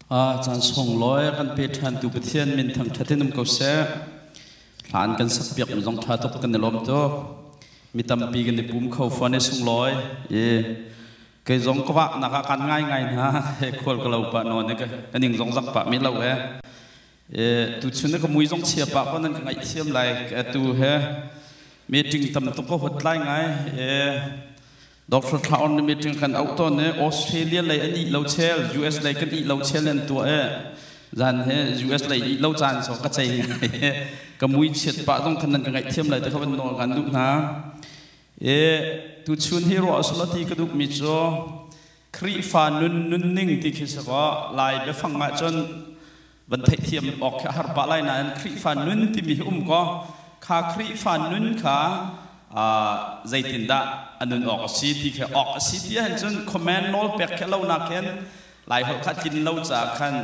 Caan sunglawi kan pe ṭhantu Pathian min thangṭhat in um ko seh. Hla an kan sakpiak in zong ṭha tuk kan i lawm tuk. Mi tampi kan i pum kho fuan i sunglawi. I kei zong ka wahnak ah kan ngaingai hna. He khual ka lo pah nawn i kan ing zong zak pah mi lo e. tuchun ka mui zong chia pa ko nan ka ngaihthiam lai ka tu he meeting tam tuk ka hot lai ngai Dr. Thaon ni meeting kan out ton ne Australia lei an i lo chel US lei kan i lo chel an tua e zan he US lei i lo chan so ka chei ngai ka mui chiat pa zong kan nan ka ngai thiam lai te khaban no kan du na e tu chun hi ro aslati ka dup mi cho Khrihfa nun nunning ti khi si kaw Lai biafang ah cun van theihthiam awk khi a har pah lai nain Khrihfa nun timi hi um kaw kha Khrihfa nun kha zeitindah a nun awk a si ti khi awk a si ti ahhin cun comment nawl pek khi a lonak hin Laiholh kha tlin lo caah khan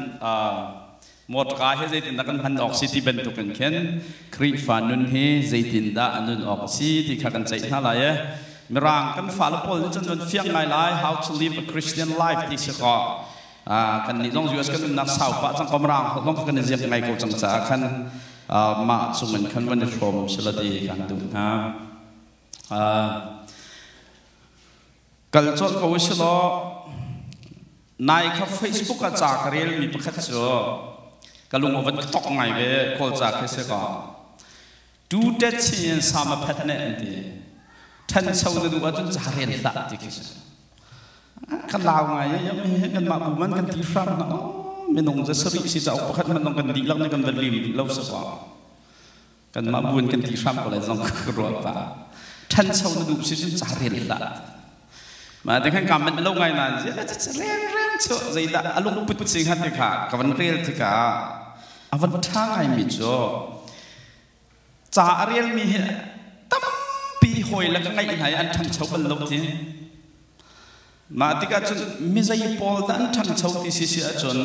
Mawṭka hi zeitindah kan hman awk si ti bantukin khin Khrihfa nun hi zeitindah a nun awk a si ti kha kan ceih hna lai i Mirang kan fale pawl nih cun nan fiang ngai lai How to Live a Christian Life ti si kaw kannih zong US kan umnak sau pah cang ko Mirang holh lawng kha kan i ziak ngai ko cang caah khan mah cungin khan van i hrawm u sila ti kan duh hna. kal cawt ko si law nai kha facebook ah ca ka relmi pakhat cu ka lung a van tok ngai ve kawl ca khi si ka tu tet sin in sama phet ne an ti ṭhancho na duh ahcun ca rel hlah ti khi si kan lau ngai i kan mah bu man kan ti hram na minung za sarih si cauk pakhat man kan dihlak ne kan van lim duh lo sa kwa Kanmah buan kan ti hram ko lai zong ka ruah pah. Ṭhancho na duh si cun ca rel hlah. Ma te khan ka manh lo ngai nan zia reng reng chu zeidah a lung put sing hat kha ka van rel tika a van ṭha ngai mi cu ca a rel mi hi tampi hawi la ka ngaih hna i an ṭhancho bal lo ti Mah tikah cun mizei pawl dah an ṭhangcho ti si si ahcun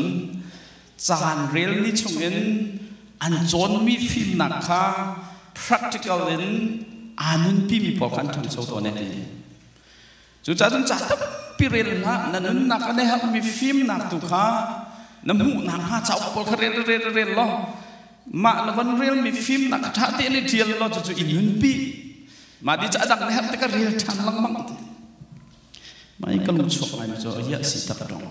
caan rel ni chungin an cawnmi fimnak kha practical in aa nunpimi pawl kha an ṭhangcho tawn e ti. Cucaah cun ca tampi rel hlah, na nunnak a nei herhmi fimnak tu kha na hmuh nakhnga cauk pawl kha rel rel rel law mah na von relmi fimnak kha ṭha tein i ṭial law cucu i nunpi. Mah di cu a dang na herh tikah rel ṭhan lengmang. Mah kan chuak laimi cu riah si tak dong.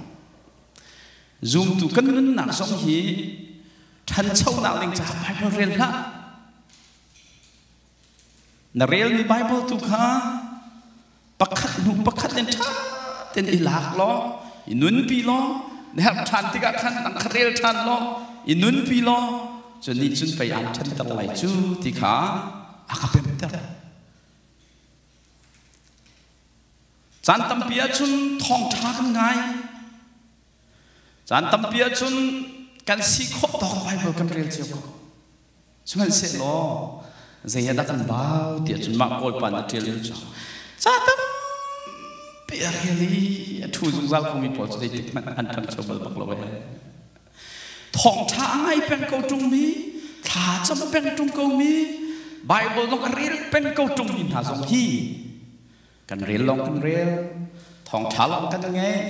Zumtu kan nunnak zong hi ṭhanchonak ding caah Baibal rel hlah. Na relmi Baibal tu kha pakhat hnu pakhat in ṭha ten i lak law, i nunpi law, na herh ṭhan tikah khan nang kha rel ṭhan law, i nunpi law, cun nih cun pei aan ṭhanter lai cu ti kha a ka pemter. Caan tampi ahcun thawngṭha kan ngai. Caan tampi ahcun kan si khawh tawk Baibal kan rel cio ko. Sihmanhsehlaw zei ah dah kan bau ti ahcun mah Kawl pa nih ṭial ding cu ca tampi a rel i a ṭhu zungzal khomi pawl cu zeitik hmanh an ṭang cio bal bak lo ee. Thawngṭha a ngai peng ko ṭungmi, thlacam a peng ṭung komi, Baibal lawng a rel peng ko ṭungmi hna zong hi kan rel lawng kan rel, thawngṭha lawng kan ngaih,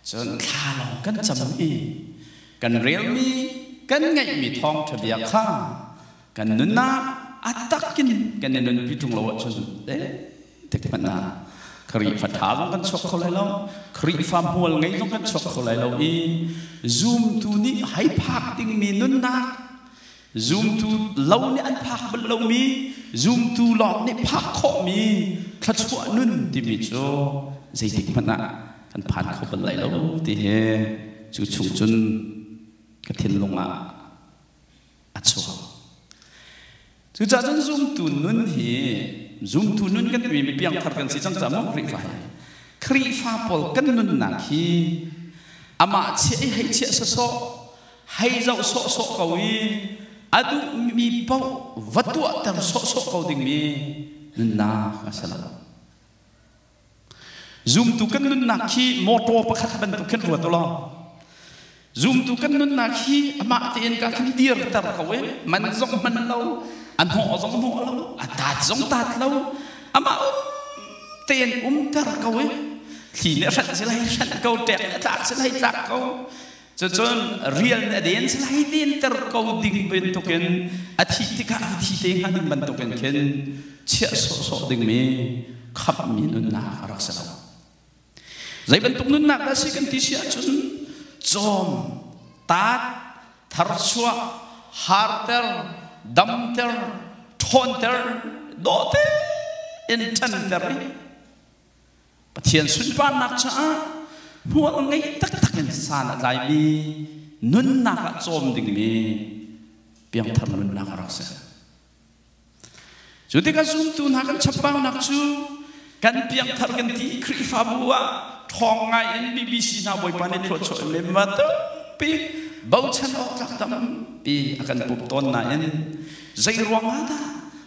cun thla lawng kan cam i kan relmi, kan ngaihmi thawngṭha bia kha kan nunnak a takin kan i nunpi ṭung lo ahcun le tik hmanh ah Khrihfa ṭha zong kan chuak kho lai lo Khrihfa hmual ngei zong kan chuak kho lai lo i zumtu nih hei phak dingmi nunnak zumtu lo nih an phak bal lomi zumtu lawng nih phak khawhmi thluachuah nun timi cu zeitik hmanh ah kan phan kho bal lai lo ti hi cu chung cun ka thinlung ah a chuak. Cucaah cun zumtu nun hi zumtu nun kan timi mi piangthar kan si cang caah maw Khrihfa hi Khrihfa pawl kan nunnak hi amah chiah i hei chiah sawsawh hei zoh sawhsawh ko i a duhmi paoh va tuahter sawhsawh ko dingmi nunnak a si lo. Zumtu kan nunnak hi motor pakhat bantuk khin ruat u law zumtu kan nunnak hi amah tein ka kan dir ter ko e man zong man lo an hawh zong hawh lo a tat zong tat lo amah um tein um ter ko e thli ne hranh silai hranh ko ṭek ne tlak silai tlak ko Cucun rian a den lai denter ko ding bantukin a thit tikah a thi te hnga ding bantukin khin chiah sawhsawh dingmi khamhmi nunnak a rak si lo. Zei bantuk nunnak dah si kan ti si ahcun cawm, taat, tharchuah, harter, damter, ṭhawnter, dawhter in ṭanter i Pathian sunparnak caah hmual ngei taktak in san a tlaimi nunnak ah cawm dingmi piangthar nunnak a rak si. Cu tikah zumtu hna kan chapaunak cu kan piangthar kan ti Khrihfabu ah ṭhawng ngaiin BBC hna bawipa nih thluachuah in lemma tampi bochan awk tlak tampi a kan pumh tawn nain Zeiruangah dah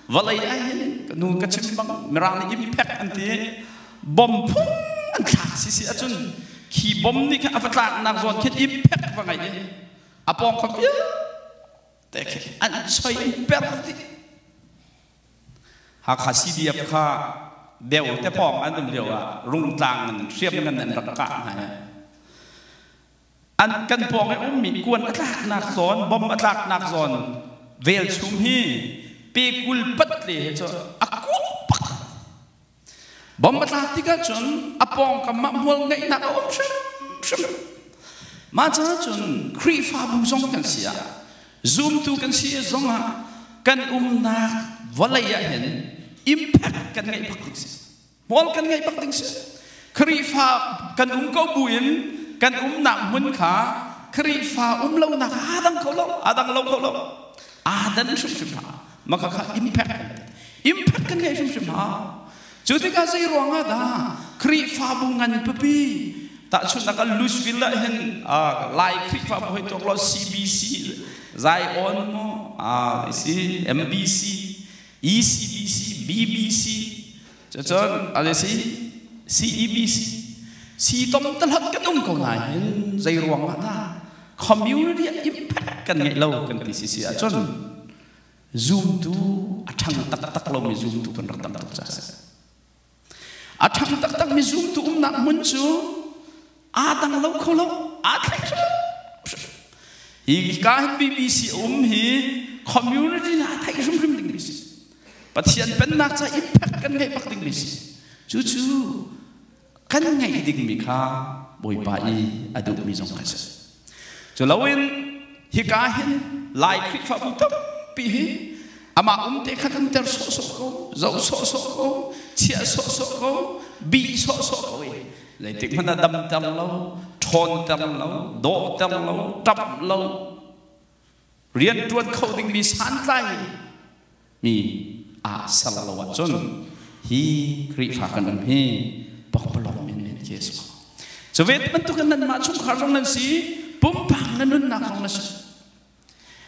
vawlei ahhin ka nu ka chim bang Mirang nih impact an ti bom phun an thlak si si ahcun khi bom nih khan a va tlaknak zawn khin impact va ngeih i a pawng kha vialte khi an choi an per dih Hakha CDF kha deu te pawng an um lio ah Rungtlang in hriam ngan in an rak kah hna i an kan pawng i ummi kuan a tlaknak zawn, bomb a tlaknak zawn velchum hi pekul patle he cu a kuak bomb a tlak tik ahcun a pawngkam ah hmual ngeihnak a um hrimhrim mah caah cun Khrihfabu zong kan si ah zumtu kan si zong ah kan umnak vawlei ah hin impact kan ngeih bak ding si Hmual kan ngeih bak ding si. Khrihfa kan um ko buin kan umnak hmun kha Khrihfa um lonak aa dang kho lo, aa dang lo kho lo. Aa dan hrimhrim hna. Maka kha impact kan Impact kan ngeih hrimhrim hna. Cu tikah zei ruang ah dah Khrihfabu ngan pipi tahchun akal Louisville ah hin Lai Khrihfabu hoi tok lo CBC Zion mo isi MBC ECDC, BBC, cucun an i si CEBC, siitom talak kan um ko nain zei ruang ah dah community impact kan ngeih lo kan ti si si ahcun zumtu a ṭhang taktak lomi zumtu kan rak tam tuk ca si. A ṭhang taktakmi zumtu umnak hmun cu aa dang lo kho lo, aa thleng hrimhrim. Hi ka hin BBC a um hi community nih a theih hrimhrim dingmi si. Pathian pennak ca impact kan ngeih bak dingmi si. Cucu kan ngeih dingmi kha Bawipa i a duhmi zong kan si. Culoin hika hin Lai Khrihfabu tampi hi amah umte kha kan ter sawhsawh ko, zoh sawhsawh ko, chiah sawhsawh ko, bih sawhsawh ko i leitik hmanh ah dam ter lo, ṭhawn ter lo, dawh ter lo, ṭamh lo, Rianṭuan kho dingmi santlai mi aa ser lo ahcun hi Khrihfa kan um hi pakpalawng in men khi a si. Cu ve bantukin nanmah chungkhar zong nan si, pumpak na nunnak zong na si.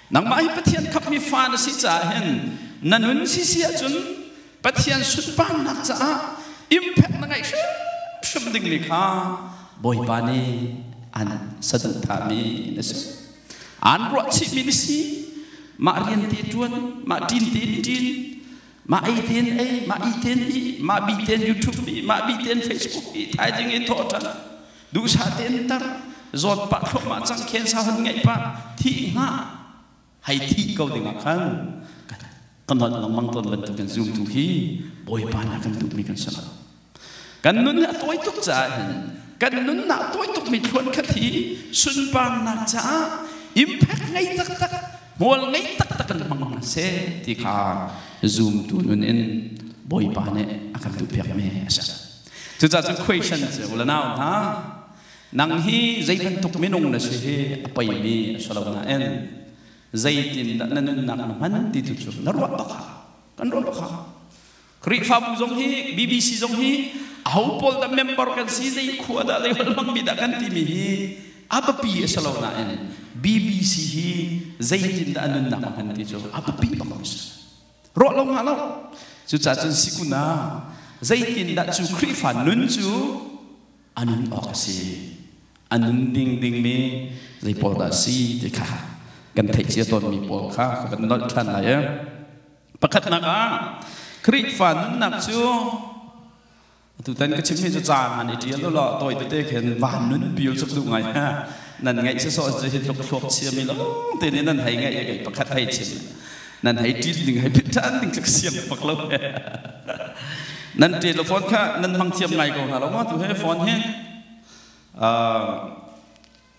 Nangmah hi Pathian khapmi fa na si caah hin na nun si si ahcun Pathian sunparnak caah impact na ngeih hrimhrim dingmi kha Bawipa nih an saduhthahmi na si. Aan ruahchihmi na si. Mah rian te ṭuan, mah ṭin tein ṭin, mah ei tein ei, mah ih tein ih, mah bi tein YouTube ih, mah bi tein Facebook ih, thaizing ih thawh ṭhan, duhsah tein tar, zawn pah thluahmah cang, khensa hon ngeih pah, thih hnga, hei thih ko dingah khan Kan holh lengmang tawn bantuk in zumtu hi Bawipa nih a kan duhmi kan si lo. Kan nun hi a tawi tuk caah hin kan nunnak a tawi tukmi thluan khat hi sunparnak caah impact ngei taktak, hmual ngei taktak in hmang hna seh ti kha zumtu nun in Bawipa nih a kan duhpiakmi a si. Cucaah cun question cu la nau hna, nang hi zei bantuk minung na si hi a peimi a si lo nain zeitindah na nunnak na hman ti tu cu na ruah bak kan ruah bak Khrihfabu zong hi BBC zong hi aho pawl dah member kan si zei khua dah zei lam mi dah kan timi hi a biapi a si lo nain BBC hi zeitindah a nunnak a hman ti cu a biapi bak mi si ruah lo nga lo cucacun sikuna zeitindah cu Khrihfa nun cu a nun awk a si. A nun ding dingmi zei pawl dah a si ti kha kan theih cia tawnmi pawl kha ka van nolh ṭhan lai. Pakhatnak ah, Khrihfa nunnak cu tutan ka chimmi cu caan ngan i ṭial ulaw tawi tete khin van nun pio cu ka duh ngai. Nan ngaih sawsawh hi tluk thluak chiami lawng tein nan hei ngaih i pakhat hei chim. nan hei ṭil ning hei pit ṭhan ding cu ka siang bak lo nan ṭel lo fawn kha nan hmang thiam ngai ko hna lo ma tu he fawn hi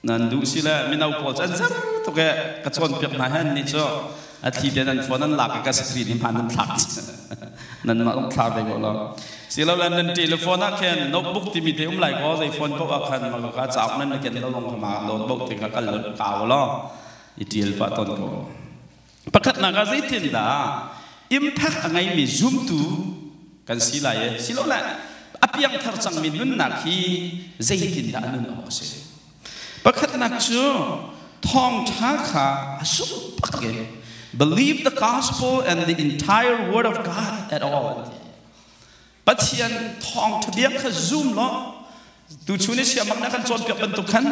nan duh si le mino pawl cu an zang tuk e ka cawn piak hna hen ni cu a thli te nan phone an lak i ka screen hi man nan thlak nan mah um thlar ve ko lo si lo lan nan telephone ah khen notebook timi te um lai ko zai phone ko a khan ma ka chak nan ken lo long ma lot bo te ka kal lo ka lo i tial pa ton ko Pakhatnak ah zeitindah impact a ngeimi zumtu kan si lai i silole a piangthar cangmi nunnak hi zeitindah a nun awk a si? Pakhatnak cu thawngṭha kha a sung bak in believe the gospel and the entire word of God at all an ti. Pathian thawngtha bia kha zum law tuchun i siamak na kan cawnpiak bantuk khan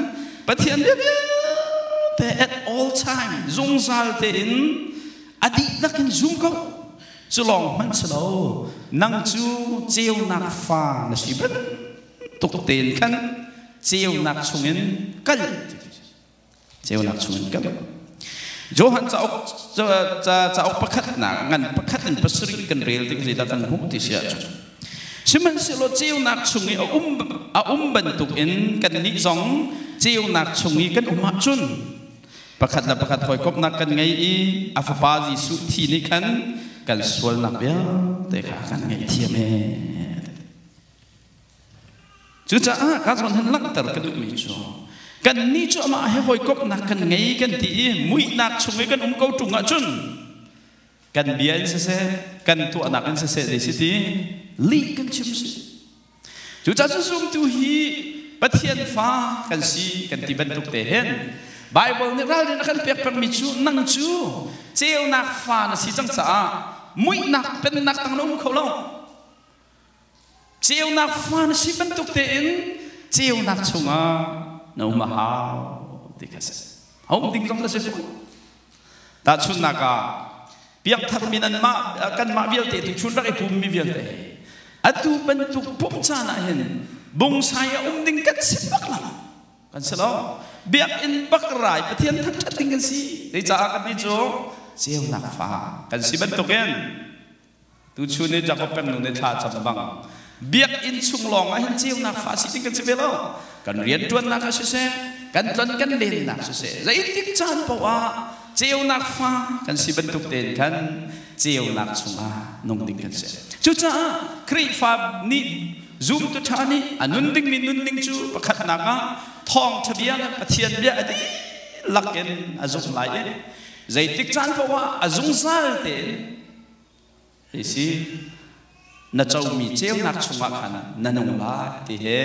Pathian bia vialte at all time zungzal tein a dihlak in zum ko cu lawng hmanh si lo nang cu ceunak fa na si bantuk tein khan ceunak chungin kal ceunak chungin kam Johan cauk cauk pakhatnak ngan pakhat in pasarih kan rel ding zeidah kan hmuh ti si ahcun sihmanhsehlaw ceunak chung i a um a um bantuk in kannih zong ceunak chung i kan um ahcun pakhat le pakhat hawikomhnak kan ngei i a fapa Jesuh thi nih khan kan sualnak vialte kha kan ngei thiam ee Cucaah ka zong hin langhter ka duhmi cu kan nih cu amah he hawikomhnak kan ngei kan ti i muihnak chung i kan um ko ṭung ahcun kan bia in siseh kan tuahnak in siseh zei si ti lih kan chim si cucaah cu zumtu hi Pathian fa kan si kan ti bantuk te hen Bible nih ralrin a kan pek pengmi cu nang cu ceunak fa na si cang caah muihnak pennak tang na um kho lo Ceunak fa na si bantuk tein ceunak chungah na um a hau ti kha si. A um ding zong na si fawn. Tahchunnak ah, biakthakmi nanmah kanmah vialte tu chun rak i pummi vialte atu bantuk pumh caan ah hin bungsai a um ding kan si bak lang kan si lo biakinn bak rai pathian thangṭhat ding kan si zei caah kan ti cu ceunak fa kan si bantukin Tuchun ni Jakob pengnu nih thla a cam bang biakinn chung lawng ah hin ceunak fa si ding kan si ve lo. Kan rianṭuannak ah siseh, kan tlon kan lennak siseh, zeitik caan paoh ah ceunak fa kan si bantuk tein khan ceunak chungah nung ding kan si. Cucaah Khrihfa nih zumtu ṭha nih a nun dingmi nunning cu pakhatnak ah thawngṭha bia le Pathian bia a dihlak in a zumh lai i zeitik caan paoh ah a zungzal tein Hi si, na comi ceunak chungah khan na nung lai ti hi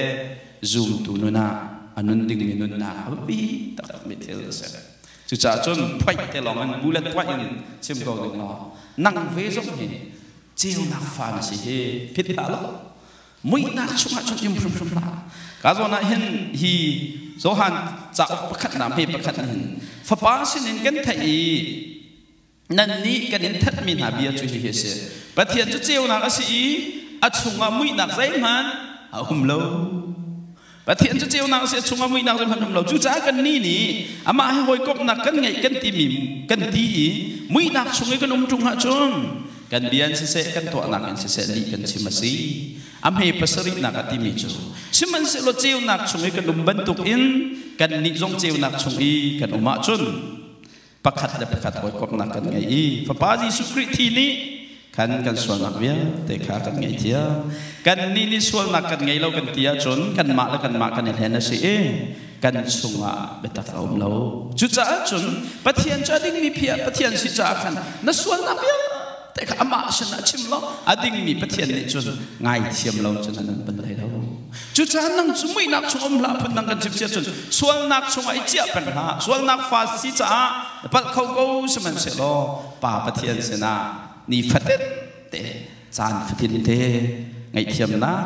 zumtu nun ah a nun dingmi nunnak a biapi taktakmi thil a si. Cucaah cun phoih te lawng in bulet tuah in chim ko ding law nang ve zong hi ceunak fa na si hi phit hlah law muihnak chungah cun im hrimhrim hlah. Ka zawn ah hin hi Johan cauk pakhatnak hme pakhat nih hin fapa sinin kan theih i Nannih kan in thatmi hna bia cu hihi a si, Pathian cu ceunak a si i a chungah muihnak zeihmanh a um lo. Pathian cu ceunak a si, a chungah muihnak zeihmanh um lo. Cucaah kannih nih amah he hawikomhnak kan ngeih kan timi kan ti i muihnak chung i kan um ṭung ahcun kan bia in siseh, kan tuahnak in siseh lih kan chim a si. A hme pasarihnak a timi cu, sihmanhsehlaw ceunak chung i kan um bantukin kannih zong ceunak chung i kan um ahcun pakhat le pakhat hawikomhnak kan ngei i fapa Jesuh Khrih thi nih khan kan sualnak vialte kha kan ngaihthiam. Kannih nih sualnak kan ngei lo kan ti ahcun kanmah le kanmah kan i hlen a si i kan chungah biatak a um lo. Cucaah cun Pathian cu a dingmi phi ah Pathian si caah khan na sualnak vialte Te kha amah sin a chim lo. A dingmi Pathian nih cun ngaithiam lo cun an pun hlei lo. Cucaah nang cu muihnak chung um hlah, phun dang kan chimchia cun sualnak chungah i ciah peng hlah. Sualnak fa si caah palh kho ko sihmanhsehlaw Pa Pathian sinah nifatin te, caan fatin te ngaihthiamnak,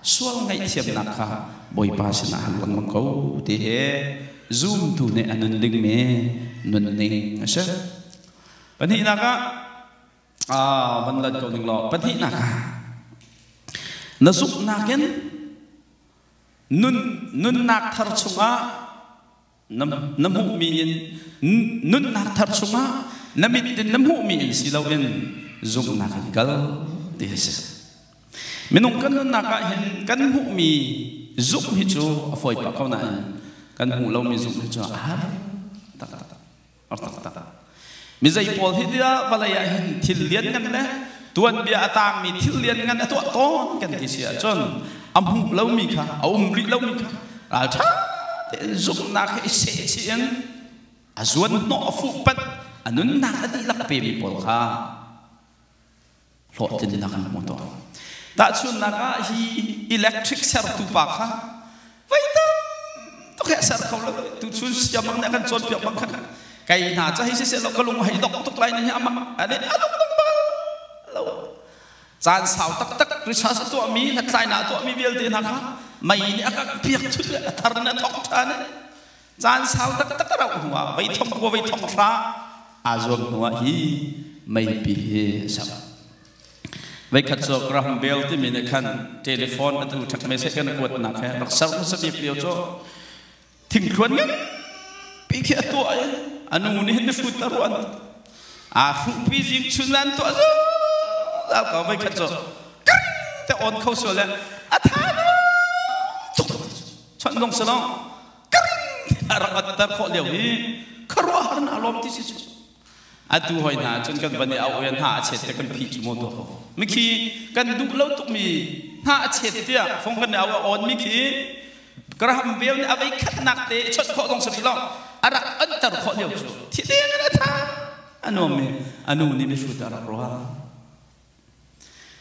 sual ngaihthiamnak kha Bawipa sinah han lengmang ko ti hi zumtu nih a nun dingmi nunning a si. Pahnihnak ah aa van lan ko ning law pahnihnak ah na zuknak in nun nunnak thar chungah na, na hmuhmi in nunnak thar chungah na mit in na hmuhmi in si loin zuknak in kal ti a si minung kan nunnak ah hin kan hmuhmi zuk hi cu a fawi pah ko nain kan hmuh lomi zuk hi cu a har taktak a taktak. Mizei pawl hi tiah vawlei ah hin thil lianngan le tuanbia a taangmi thil lianngan a tuah tawn kan ti si ahcun a hmuh lomi kha, a um rih lomi kha ralṭha tein zumhnak he i sehchih in a zuanhnawh a fuhpanh a nunnak a dihlak pemi pawl kha hlawhtlinnak an hmu tawn. Tahchunhnak ah hi electric sertu pa kha vai tam tuk he ser kho lo tu chun siam bang ne kan cawn piak bang khan kai hna cha hi si se lo ka lung hei dok tuk lai ni ama ane alok bang ba lo caan sau tak tak research to mi hlathlai na to mi vialte hna kha mei ni akak piak chut a thar na thok tha ne Caan sau taktak a rauh hnuah veithong khua veithong hra aa zuam hnuah hi meipi hi a ser. Veikhat cu Graham Bell timi nih khan telephone atu thak message kan kuatnak he rak ser hmasa bik lio cu thingthluan nganpi khi a tuah i a nu nih hin hrut a ruan aa hruhpi zing chun an tuah zo al ko veikhat cu kar te on kho sual le a tha no tuk chon dong salong a rak atter khawh lio i khuaruahhar hna lawm ti si si atu hoi hna cun kan van i auh i hna a chet te kan phi cu maw tuah ko mikhi kan duh lo tukmi hna a chet tiah fong kan i auh a on mikhi karaham veu nih avei khatnak te i chawt khawh dong sami lo a rak anter khawh lio cu thi deng na tha anuam mi anu nih mihrut a rak ruah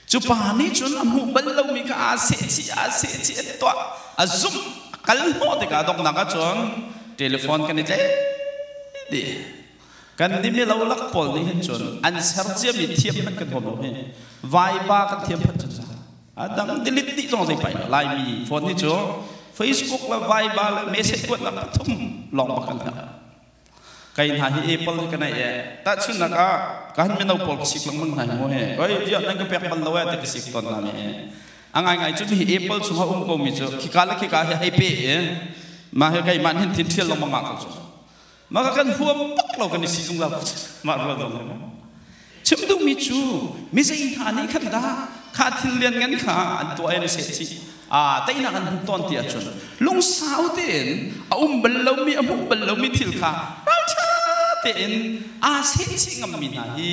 Cu pa nih cun a hmuh bal lomi kha aa sehchih, aa sehchih, a tuah, a zumh, a kal hnawh tikah donghnak ah cun telephone kan i tleih dih. Kan nih milolak pawl nih hin cun an serciami thiam hmanh kan hmu lo hi vaipa kan thiam phanh cun a dang delete dih zong zei pai lo. Laimi phone hi cu Facebook le vaiba le message kuatnak pathum lawng bak kan herh. Kei hna hi Apple in ka neih e. Tahchunhnak ah, kan mino pawl ka sik lengmang hna hi mu hi. Oi, viah nan ka pek bal lo e ti ka sik tawn hna mi e. A ngaingai cu hi Apple chung a um ko mi cu khika le khika hi hei pe e. Ma hi kei man hin thin thial lengmang ma ko cu. Ma ka kan huam tak lo kan i si zungzal ko. Ma rual dong hi mu. Chim duhmi cu mizei hna nih khan dah kha thil lianngan kha an tuah i an sehchih, aa teinak an hmuh tawn ti ahcun, lungsau tein a um bal lomi, a hmuh bal lomi thil kha ralṭha tein aa sehchih ngammi hna hi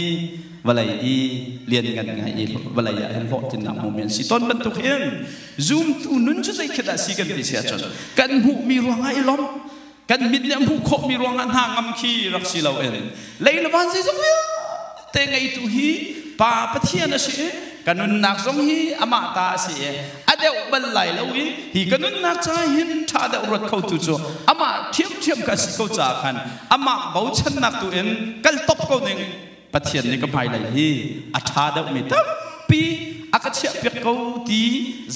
vawlei i lianngan ngai i vawlei ah hin hlawhtlinnak hmumi an si tawn bantuk hin zumtu nun cu zeikhat dah a si kan ti si ahcun kan hmuhmi ruangah i lawmh kan mit nih a hmuh khawhmi ruangah hna ngam khi rak si loin lei le van zeizong vialte ngeitu hi Pa Pathian a si i ka nunnak zong hi amah ta a si i a deuh bal lai lo i hi ka nunnak caah hin ṭha deuh ruat khotu cu amah ṭhiamṭhiam ka si ko caah khan amah bochannak tu in kal top ko ning Pathian nih ka hmailei hi a ṭha deuhmi tampi a ka chiahpiak ko ti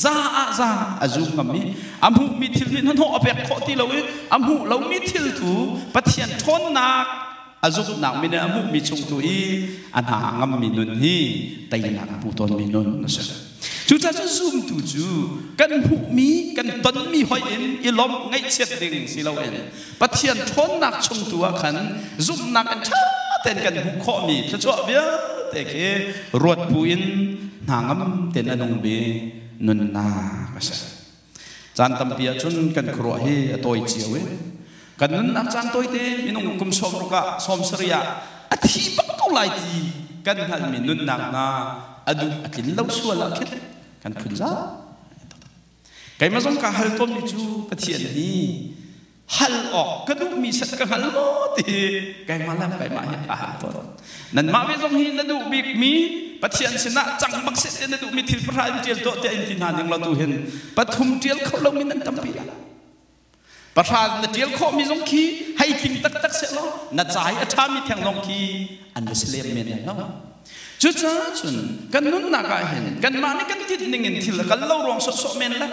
za ah za a zum ngam i a hmuhmi thil nih hnahnawh a pek khawh ti lo i a hmuh lomi thil tu Pathian ṭhawnnak a zumhnak min a hmuhmi chung tu i a hna a ngammi nun hi teinak a hmu tawnmi nun a si. Cucacun zumtu cu kan hmuhmi, kan tonmi hoih in i lawmh ngaihchiat ding si loin Pathian ṭhawnnak chung tu ah khan zumhnak in ṭha tein kan hmuh khawhmi thluachuah vialte khi ruat buin hna ngam tein a nung bik nunnak a si. Caan tampi ahcun kan khuaruah hi a tawi cio i kan nunnak caan tawite minung kum sawm ruk ah sawm sarih ah a thi bak ko lai ti kan hngalhmi nunnak hna a duh a tlin lo sual ah khin kan phun zau. Keimah zong kaa hal komi cu Pathian hi hal awk ka duhmi set ka hngal maw ti keimah le keimah hi ka hal tawn nanmah ve zong hi na duh bikmi pathian sinah cang bak set na duhmi thil pahra in ṭial tuah tiah in ti hna ning lo tu hin pathum ṭial kho lomi nan tampi la pahra na ṭial khawhmi zong khi hei tling taktak se law na cai a ṭhami theng zong khi an va si lem men lai lo cucaah cun kan nunnak ah hin kanmah nih kan tit ning in thil kal lo ruang sawsawh men le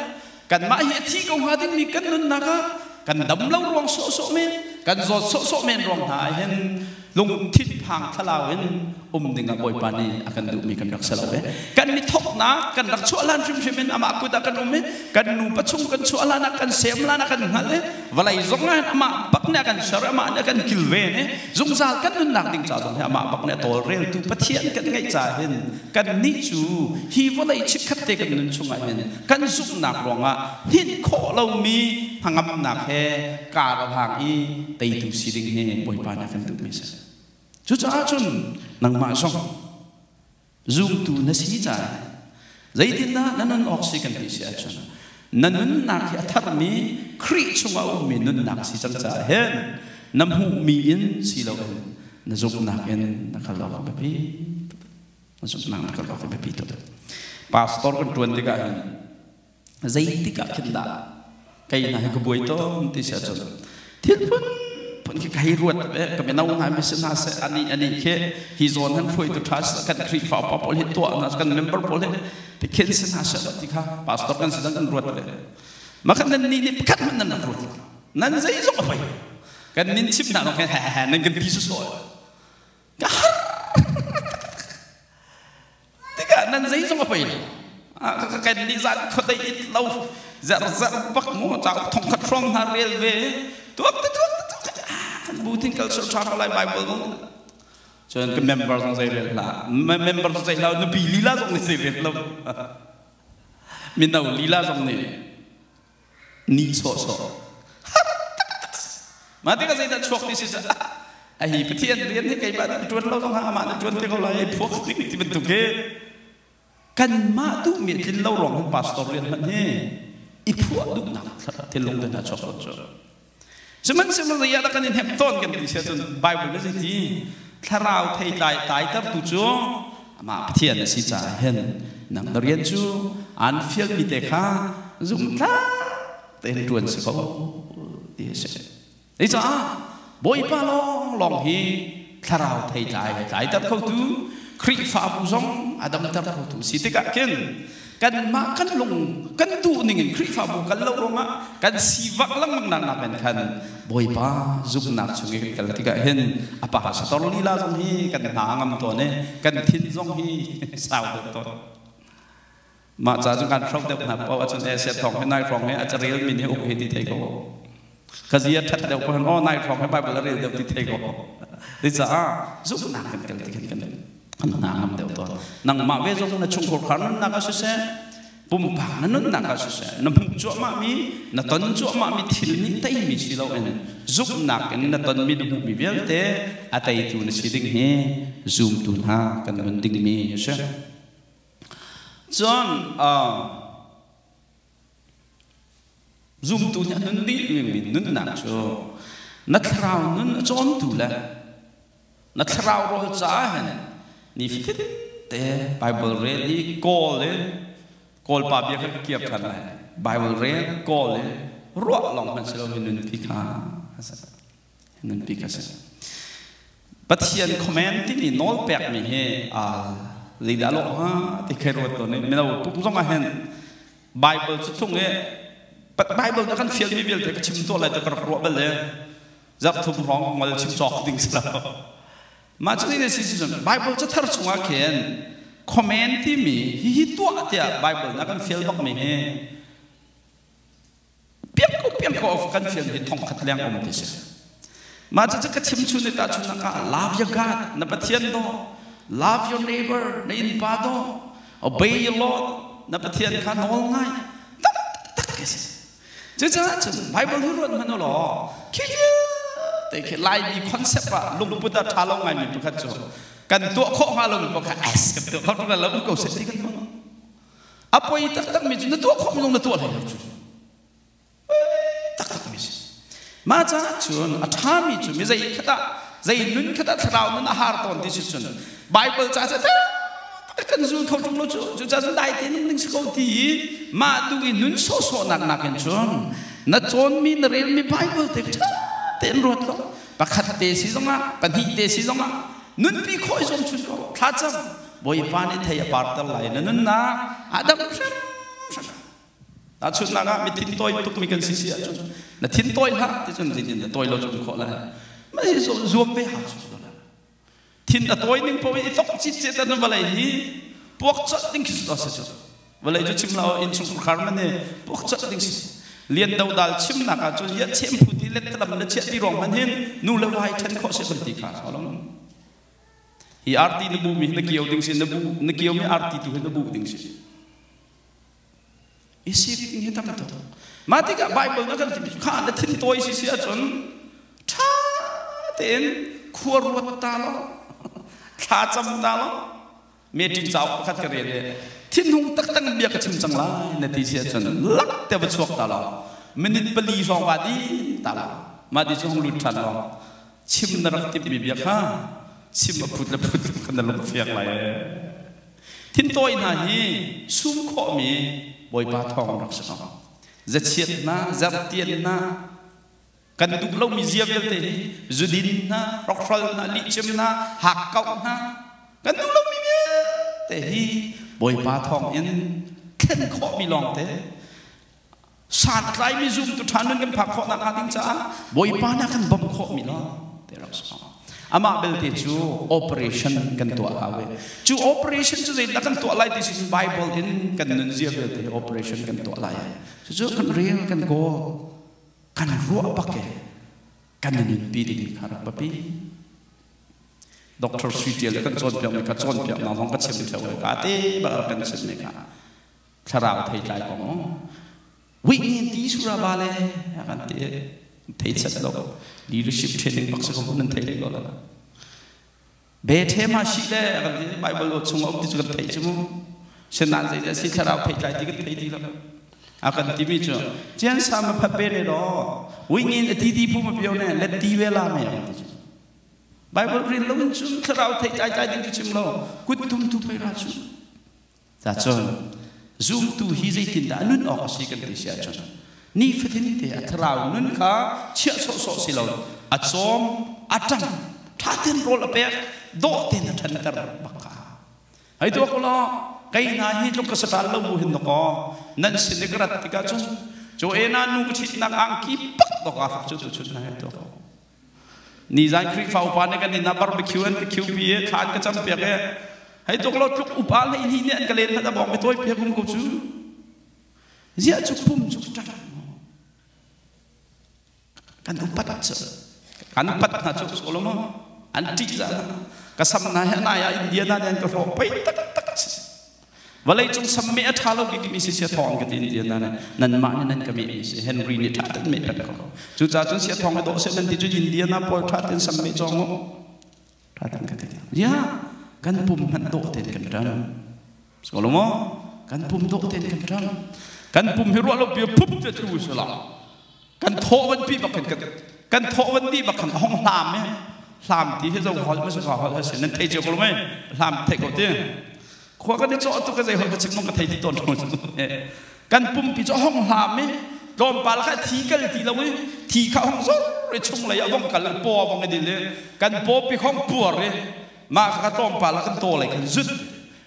Kanmah hi a thih ko hnga dingmi kan nunnak ah kan dam lo ruang sawhsawh men, kan zawt sawhsawh men ruang hna ah hin lungthin phang thlalau in um ding ah Bawipa nih a kan duhmi kan rak ser lo ve. Kan i thawknak kan rak chuah hlan hrimhrim in amah kut ah kan um i kan nupa chung kan chuah hlan ah kan sem hlan ah kan hngalh i vawlei zong ah hin amah bak nih a kan ser i amah nih a kan kilven i zungzal kan nunnak ding ca zong hi amah bak nih a tawlreltu Pathian kan ngeih ca hin kannih cu hi vawlei chikkhat te kan nun chung ah hin kan zumhnak ruangah hninh khawh lomi hnangamnak he karahlang i teitu si ding hi Bawipa nih a kan duhmi a si. Cucaah cun nangmah zong zumtu na si caah zeitindah na nun awk si kan ti si ahcun na nunnak hi a tharmi Khrih chungah a ummi nunnak si cang caah hin na hmuhmi in si loin na zumhnak in na kal awk a biapi. nang ka ka biapi to pastor kan tuan tikah hin zeitik ah khin dah kai na hi ka buai tom ti sia chun thil phun phun khi kai ruat ve ka mino na mi sin na se ani ani ke hi zon han phoi tu tha kan krifa pa pol hi to na kan member pol hi ti khin sin na se ti kha pastor kan sidang kan ruat ve ma kan nan ni ni pakhat man nan ruat nan zei zong a phai kan nin chim na lo kan ha ha nan kan ti su so tikah nan zeizong a pei lo ka ken nih zan khuadei it lo zer zer bak ngo cha thong khat hrom hna rel ve tuak te tuak te tuak bu tin culture tha lai bible go cun ka member zong zei rel la member zong zei la nupi lila zong ni sei rel lo mino lila zong ni ni sawhsawh mah tikah zeidah chuak ti si cu a hi pathian rian hi keimah nan ṭuan lo zong amah na ṭuan te ko lai phuak ding ti bantuk hi kanmah duhmi tlin lo ruang hin pastor rian hman hi i phuah duhnak thilung te hna chuak cu Sihmanhsehlaw ah dah kan i hnemh tawn kan ti siah cun Baibal nih zeiti thlarau theitlai tlaitertu cu amah Pathian a si caah hin nang na rian cu aan fialmi te kha zumhtlak tein ṭuan si ko ti a si. Cucaah Bawipa lawnglawng hi thlarau thei tlai a tlaiter khotu Khrihfabu zong a damter khotu a si tikah khin kanmah kan lung kan duhning in Khrihfabu kal lo ruangah kan sivak lengmang naknak in khan Bawipa zumhnak chung i kan kal tikah hin a pa sator lila zong hi kan hna a ngam tawn i kan thin zong hi sau deuh tawn Mah ca cu kan hroh deuh hna poh ahcun Asia thawng hi nai hrawng hi a carel min hi uk he ti thei ko. Ka zia ṭhat deuh pohon aw nai hrawng hi Bible a rel deuh ti thei ko. Ti caah zumhnak kan tel ti khin kan an hna ngam deuh tawn. Nangmah ve zong na chungkhur khar nunnak ah siseh pumpak na nunnak ah siseh na hmuh cuahmahmi na ton cuahmahmi thil nih teimi si loin zumhnak in na tonmi na hmuhmi vialte a teitu na si ding hi zumtu hna kan nun dingmi a si. Cun zumtu nih a nun dih mi nunnak cu na thlarau nun a cawmtu le na thlarau rawl caah hin ni fatin te Bible rel i kawl in kawlpa bia kan kir than lai Bible rel kawl in ruah lawng hmanh si lo mi nun khi kha a si nunpi ka si pathian comment timi nawl pekmi hi leidah lo ha ti khai ruat to ne melo tuk zong ah hen bible cu chung e bible ta kan fial mi vialte ka chim to lai ta ka rak ruah bel le zak thum hrawng ngol chim cok ding sala ma chu ni si season bible cu thar chungah khen comment timi hi hi tua tia bible na kan fial bak mi hi piangpiang of kan fian hi thongkhat leng um ti si mah cucu ka chimchun ni tahchunnak ah love your god na pathian do love your neighbor na in pa do obey your lord na pathian kha nawl ngai tak tak ke si cucaah cun bible hu ruat hman law khi te khi lai mi concept ah lungput a tha lo ngai mi pakhat cu kan tuah khawh hnga lo mi pakhat as kan tuah khawh hnga lo ko se ti kan mong a poi taktakmi cu na tuah khawh minung na tuah hlei lo cu taktakmi si mah caah cun a ṭhami cu mi zei khat ah zei nun khat ah thlarau nun a har tawn ti si cun Bible ca cu kan zul kho ṭung lo cu cucaah cun dai te nung ding si ko ti i mah tu i nun sawhsawhnak nakin cun na cawnmi na relmi Bible te ṭha tein ruat law pakhat te si zongah pahnih te si zongah nunpi khawh i zuam chun ko thla cam Bawipa nih thei a parter lai na nunnak a dam hrimhrim. Tahchunhnak ah, mi thin tawi tukmi kan si si ahcun na thin tawi hlah ti cun zin in na tawi lo cun khawh lai. Mah hi cu zuam ve ha cu la. Thin a tawi ning paoh i thok cit cit na vawlei hi puak cawt ding khi cu si vawlei cu chim la inn chung khar man ne puak cawt ding si lian do dal chimnak ah cun ya chem phu ti let tlam na chiah ti ruang man hin nu le vai ṭhen khawh si kan ti kha so long Hi arti na buhmi hi na kio ding si, na buh na kiomi arti tu hi na buh ding si. Isi ding hi tam tuk. Mah tikah Bible na kan ti kha na thin tawi si si ahcun ṭha tein khua ruat ta lo, thla cam ta lo, meṭin cauk pakhat ka rel i thinhung taktak bia ka chim cang lai na ti si ahcun lak te va chuak ta law minute pali hrawng va din ta law mah ti cu hong lut ṭhan law chim na rak timhmi bia kha chim a phut le phut ka na lung fiang lai thintawi hna hi sum khawhmi bawipa thawng rak si ko zachiatnak zarhtiannak kan duh lomi zia vialte hi zudin hna rokhral hna lihcem hna hakkauh hna kan duh lomi vialte hi bawipa thawng in thlen khawhmi lawngte santlaimi zumtu ṭha nun kan phak khawhnak hnga ding caah bawipa na kan bawmh khawhmi lawng te rak sawm amah belte cu operation kan tuah hawe cu operation cu zeidah kan tuah lai this is bible in kan nun zia vialte operation kan tuah lai cucu kan rel kan kawl kan ruah bak i kan i nunpi ding kha rak biapi. Dr. Sui Ṭial le kan cawnpiakmi ka cawnpiaknak zong ka chim ṭheo ka te bar kan chimmi kha thlarau thei tlai ko mu. Wih nian ti suraba le kan ti thei set lo leadership training bak si ko nan thei le lo la. Bethlehem ah si le kan ti Bible aw chung a um ti cu kan theih cu mu. Sinan zei dah si thlarau pheitlai ti kan thei ti lo. A kan ti mi cu Cian sa ma phat ve ne lo. Wingin a ti ti phu ma bio ne let ti ve la me ang ti cu. Bible ril lo in cun thlarau thei tlai tlai ding cu chim lo. Kut tum tu phei ra cu. Cacun, zumtu hi zeitindah a nun awk a si kan ti si ahcun, nifatin te a thlarau nun kha chiah sawhsawh si lo, a cawm, a ṭang, ṭha tein rawl a pek, dawh tein a ṭhanter bak kha a hau. Hei tuah ko law, kei hna hi tluk ka sa ṭhan lo bu hin dakaw, nan sin i ka rat tikah cun, cu en ah nu ka ṭhitnak angki pak dawk aa fak cu tuchun hna hi tuah ko. Nizan Khrihfa upa nih kan inn ah barbecue an ka khiupi i thla an ka campiak i hei tuk law tluk upa le hi nih an ka len hlat a bawng ka tawi piak um ko cu ziah cu pum cu ṭang kan upat cu kan upat hna cu so lo ma an ṭih za ka sam hna hi na ya India na den ka hlawh pei tak tak si Vawleicung sam meh a ṭha lo bikmi si sia thawng ka tin tiah nan nanmah nih nan ka mehmi si Henry nih ṭha in mehter ko. Cucaah cun sia thawng hi dawh seh nan ti cu India na pual ṭha tein sam meh cawng u. Ṭha tein ka ti. Ya, kan pum hmanh dawh tein kan ṭam. Skolong kan pum dawh tein kan ṭam. Kan pum hi ruah lo bia phup te tu salah. kan thawhvanpi bak khan kan thawhvanpi bak khan a hong hlam e hlam ti hi zo hol mas ga hol se nan thei che ko lo me hlam thei ko ti khua kan chaw tu ka zei hol ka chik mong ka thei ti ton thon kan pumpi chaw hong hlam e tlom pa la ka thi kal ti lo e thi kha hong zo re chung lei avong kal po avong edil e kan po pi khong puar e ma ka tlom pa la kan to lei kan zut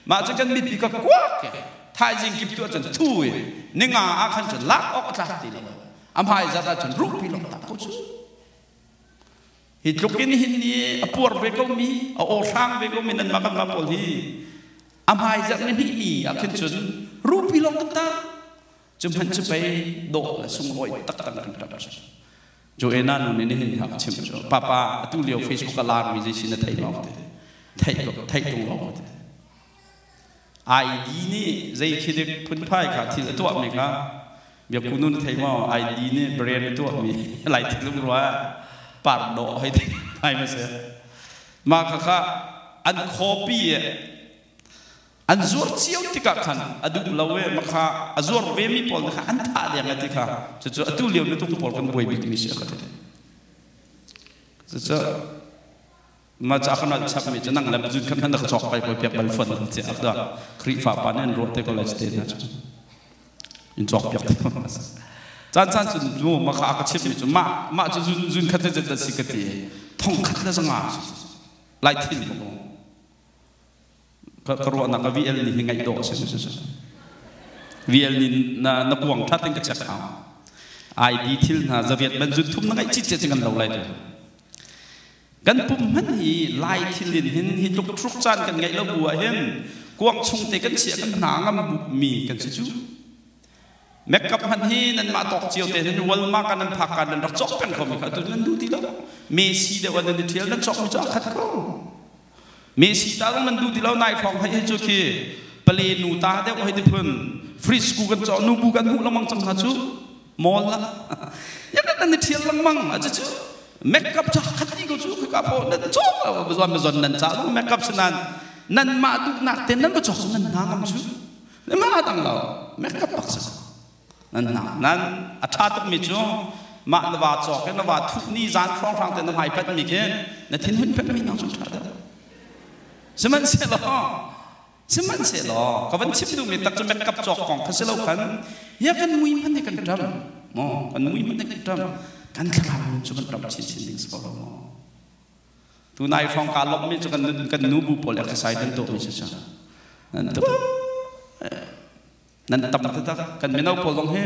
Mah cu cun mipi ka kuak he thaizing kip tu ah cun thu in ninga ah khan cun lak awk a tlak ti lo. A hmai zat ah cun ruhpi lawng tak ko cu. Hi tluk in hin ni a puar ve ko mi, a awhrang ve ko mi nan mah kan mah pawl hi a hmai zat ni hnih mi ah khin cun ruhpi lawng kan tak. Cu hman cu pei dawh le sunglawi tak kan kan ṭap. Joanna nu nih nihin a ka chimh cu, Papa, atu lio Facebook a laarmi zeisin na theih lo te, theih theih tung lo te. ID nih zei khi dik phunphai kha thil a tuahmi kha biakunu na thei maw? ID nih brand a tuahmi laitik lungrua pardaw hei thei ai ma si. Mah kha kha an copy An zuar cio tikah khan a duh lo i makha a zuar vemi pawl na kha an thah deng a ti kha cucu atu lio mitung pawl kan buai bikmi si a ka ti cucu mah ca kan al chapmi cu nang le zun kan kan ka chok pai poi piak bal fon ti ak da Khrihfa pa ne an ruah te college te na cu in chok piak te chan chan cu nu makha a ka chimmi cu mah mah cu zun zun khat te si ka ti thong khat le zanga lai thin ko ka ruahnak a VL nih hi ngaih dawh a si VL nih na na kuang ṭha tein ka check hau ID thil hna zaviat ban zun thum na ngaih cit cit kan lo lai tu kan pum man hi lai thil in hin hi tluk thruk caan kan ngaih lo bu ah hin kuang chung te kan chia kan hna ngam mi kan si chu makeup han hi nan mah tok cio te hin walmart kan nan phak kan nan rak chok peng ko mi kha tu nan du ti lo me si de wan nan thial nan chok mi cho khat ko Mesi ta zong nan duh ti lo nai hrawng hai hi cu khi pale nu ta deuh hei ti phun fridge ku kan cawh nu bu kan hmuh lengmang cang hna cu mol la ya kan nan i thial lengmang a cu cu makeup cha khat ni ko cu ka pho nan chok la bazon bazon nan cha zong makeup sinan nan ma tuk nak ten nan ba chok nan na ngam cu ma dang lo makeup pak sa nan hna nan a ṭha tukmi cu mah na va cawk i na va thuh ni zan hrawnghrang te na hmai patmi khi na thinhun pekmi nang cun ṭha dah sihmanhsehlaw sihmanhsehlaw ka van chim duhmi tak cu makeup cawk kong kha si lo khan ya kan mui hman hi kan ṭam maw kan mui hman hi kan ṭam kan thlarau nun cu kan ṭam chinchin ding si ko lo maw tu nai hrawng kaa lawmhmi cu kan kan nu bu pawl exercise nan tuahmi si cang nan tuah nan tam taktak kan mino pawl zong hi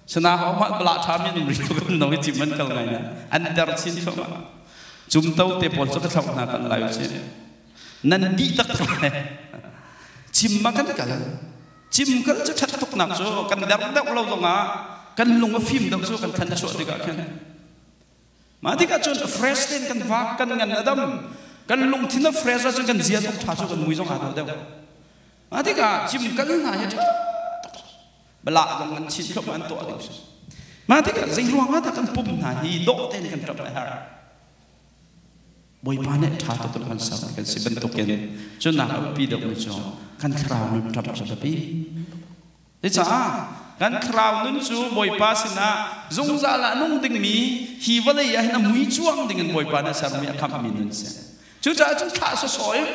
sana hau mah bala ṭhami an um rih lo kan no i cim an kal ngai na an ter chin thoma cumto te pawl cu ka thlauh hna kan lai uci nan dih tak tak lai cim ma kan kal cim kal cu ṭhat tuk nak cu kan der deuh lo zongah kan lung a fim deuh cu kan than chuah tikah khin ma tikah cun fresh ten kan vak kan ngan adam kan lungthin a fresh cu kan zia tuk ṭha cu kan mui zong aa deuh deuh Mah tikah cimkal hna hi a ṭha tuk. Balak zong an chin tluk an tuah ding hrim. Mah tikah zeiruangah dah kan pum hna hi dawh tein kan ṭap a har? Bawipa nih ṭha tuk in kan sermi kan si bantukin cu nak a biapi deuhmi cu kan thlarau nun ṭap cu a biapi. Cucaah kan thlarau nun cu Bawipa sinah zungzal ah nung dingmi hi vawlei ah hin a mui cuang dingin Bawipa nih a sermi a khamhmi nun a si. Cucaah cu thlah sawsawh in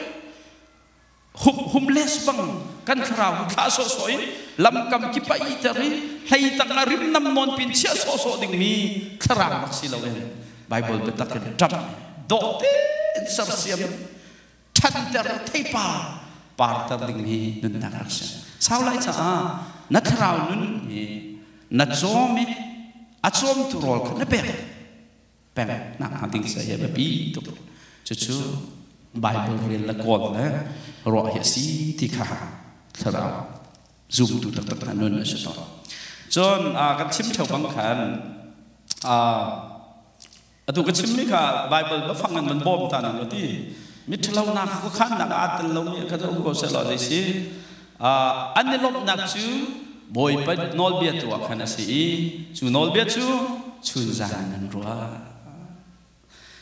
humhum les bang kan thlarau hi thlah sawhsawh in lamkam ki pai ter i hlei tang a rimnam nawn pin chiah sawhsawh dingmi thlarau rak si loin Bible biatak in ṭap dawh tein sersiam ṭhanter theipa parter dingmi nunnak rak si sau lai caah na thlarau nun hi na cawm i a cawmtu rawl kha na pek peknak hna ding seh hi a biapi tuk cucu Bible rel le kawl le ruah hi a si ti kha thlarau zumtu taktak hna nun a si tawn cun kan chim theo bang khan atu ka chimmi kha Bible ba fang in man bawm ta nan ti miṭhalonak kha khannak aa tel lomi kha um ko seh law zei si An i lawmhnak cu Bawipanh nawlbia tu ah khan a si i cu nawlbia cu chunzan in an ruah.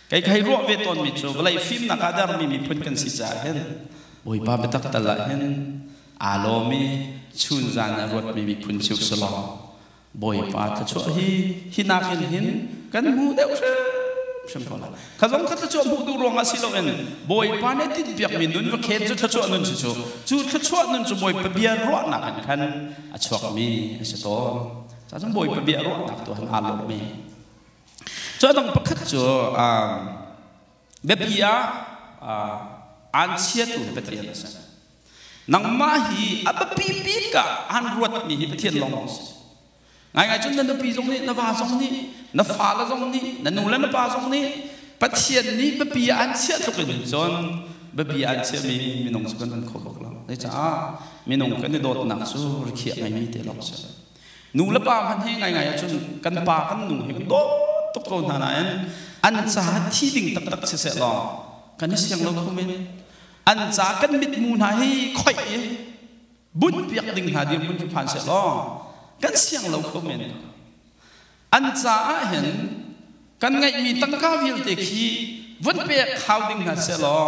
Kei ka hei ruah ve tawnmi cu vawlei fimnak ah dermi miphun kan si caah hin Bawipa biatak tal ah hin aa lawm i chunzan ah ruatmi miphun cio si law Bawipa thluachuah hi hi nakin hin kan hmu deuh hrim ko lai. Kha zong ka thluachuah hmuh duh ruangah si loin Bawipa nih tinhpiakmi nun va khen cu thluachuah nun si cu cu thluachuah nun cu Bawipa bia ruahnak in khan a chuakmi a si tawn. Ca zong Bawipa bia ruahnak tu han aa lawmmi. Cu a dang pakhat cu um, biapi ah aan chiatu Pathian a si nangmah hi a biapi bik ah aan ruatmi hi Pathian lawng a si ngai ngai cun na nupi zong nih na va zong nih na fale zong nih na nu le na pa zong nih Pathian nih biapi ah aan chiah tluk in cun biapi aan chiahmi minung cu kan kan kho bak lo zei caah minung kan i dawtnak cu rikhiah ngaimi te lawng a si Nu le pa hmanh hi ngaingai ahcun kan pa kan nu hi kan dawt tuk ko hna nain an caah thi ding taktak si seh law kan i siang lo kho men an ca kan mitmu hna hi khoih i bunh piak ding hna dir mun khi phan seh law kan siang lo kho men an caah hin kan ngaihmi tangka vialte khi vun pek khau ding hna seh law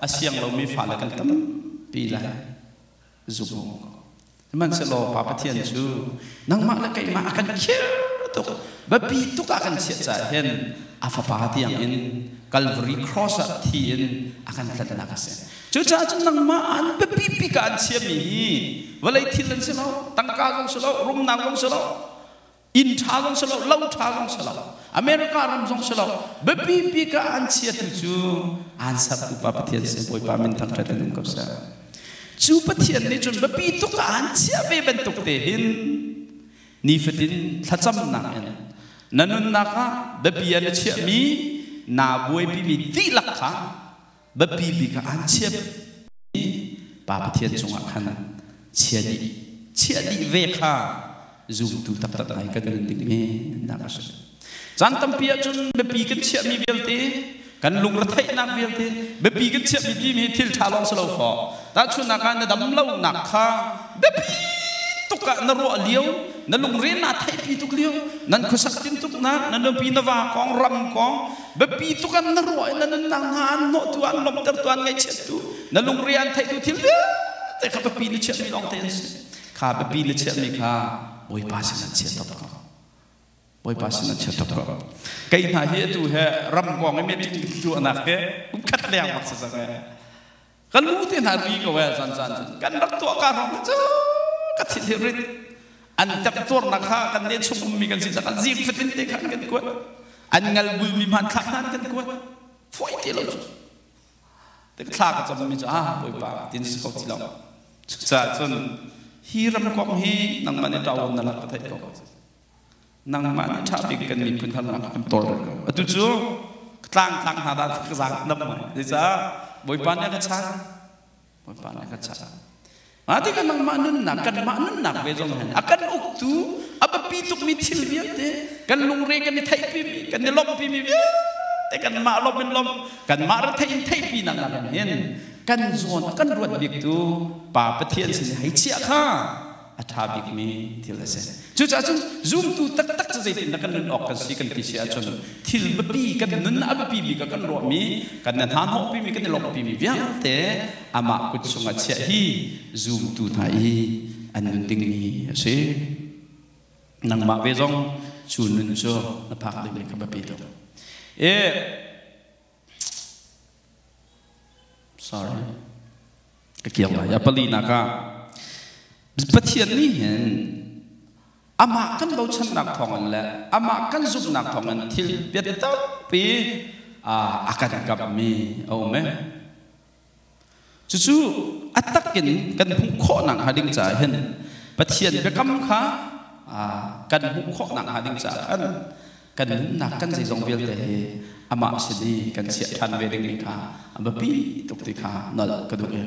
a siang lomi fale kan tam pi lai zung. Sihmanhsehlaw Pa Pathian cu nangmah le keimah a kan khir tuk biapi tuk ah kan chiah caah hin a Fapa tiangin Kalvari Cross ah thi in a kan tlanhnak a si. Cucaah cun nangmah an biapi bik ah an chiahmi hi vawlei thil an si lo, tangka zong si lo, rumnak zong si lo, Inn ṭha zong si lo, lo ṭha zong si lo, America ram zong si lo, biapi bik ah an chiatu cu aan ser upa Pathian sin Bawipa min thangṭhat in um ko seh. Cu Pathian nih cun biapi tuk ah aan chiah ve bantuk te hin nifatin thlacamnak in na nunnak ah biapia na chiahmi naa buaipimi dihlak kha biapi bik ah aan chiah i Pa Pathian cungah khan chia dih chiah dih ve kha zumtu taktak ngai kan nun ding me nak a si caan tampi ahcun biapi kan chiahmi vialte kan lungretheihnak vialte biapi kan chiahmi timi hi thil ṭha lawng si lo faw tahchunnak ah na dam lonak kha biapi tuk ah na ruah lio na lungre naa theihpi tuk lio nan khuasak tin tuk na na nupi na va kong ram kong biapi tuk an na ruah in na nunnak hna an hnawhtu an lawmhtertu an ngaihchiattu na lungre an theihtu thil vialte kha biapi na chiahmi lawng te an si kha biapi na chiahmi kha bawipa sinah chiatawk ko bawipa sinah chiatawk ko kei hna hi atu he ram pawng i meeting luahnak hi kum khat leng bak si zang kan nu te hna ri ko eh zan zan kan rak tuah ka ram cu ka thil hi rit an tap tuar nak ha kan ne chung um mi kan sin kan zim fatin te khan kan kuat an ngal bul mi man thak nan kan kuat phoi te lo te thla ka cham mi chu ah boi pa tin ko ti lo cha chun hi ram kong hi nang mane taw na la ka thai ko nangmah nih ṭha bik kan miphun harnak a kan tawlrol ko. Atu cu ka tlangtlang hna dah ka zaang nam mai. Zeicah Bawipa nih a ka chah? Bawipa nih a ka chah. Mah tikah nangmah nunnak, kanmah nunnak ve zong hin a kan uktu, a biapi tukmi thil vialte, kan lungre kan i theihpimi, kan i lawmhpimi vialte kanmah lawm in lawm, kanmah rethei in theihpinak nakin hin kan zawn a kan ruat biktu Pa Pathian sin i hei chiah kha a ṭha bikmi thil a si. Cucaah cun zumtu taktak cu zeitindah kan nun awk kan si kan ti si ahcun thil biapi kan nun a biapi bik ah kan ruahmi, kan i hnahnawhpimi, kan i lawmhpimi vialte amah kut chungah chiah hi zumtu hna i an nun dingmi a si. Nangmah ve zong cu nun cu na phak dingmi kha biapi tuk. E, Sorry. Ka kiang lai. A pali nak ah Pathian nih hin amah kan bochannak thawngin le amah kan zumhnak thawngin thil biatakpi a kan kapmi a um e. Cucu a takin kan hmuh khawhnak hnga ding caah hin Pathian biakam kha kan hmuh khawhnak hnga ding caah kan kan nunnak kan zeizong vialte hi amah sin i kan chiah ṭhan ve dingmi kha a biapi tuk ti kha nolh ka duh i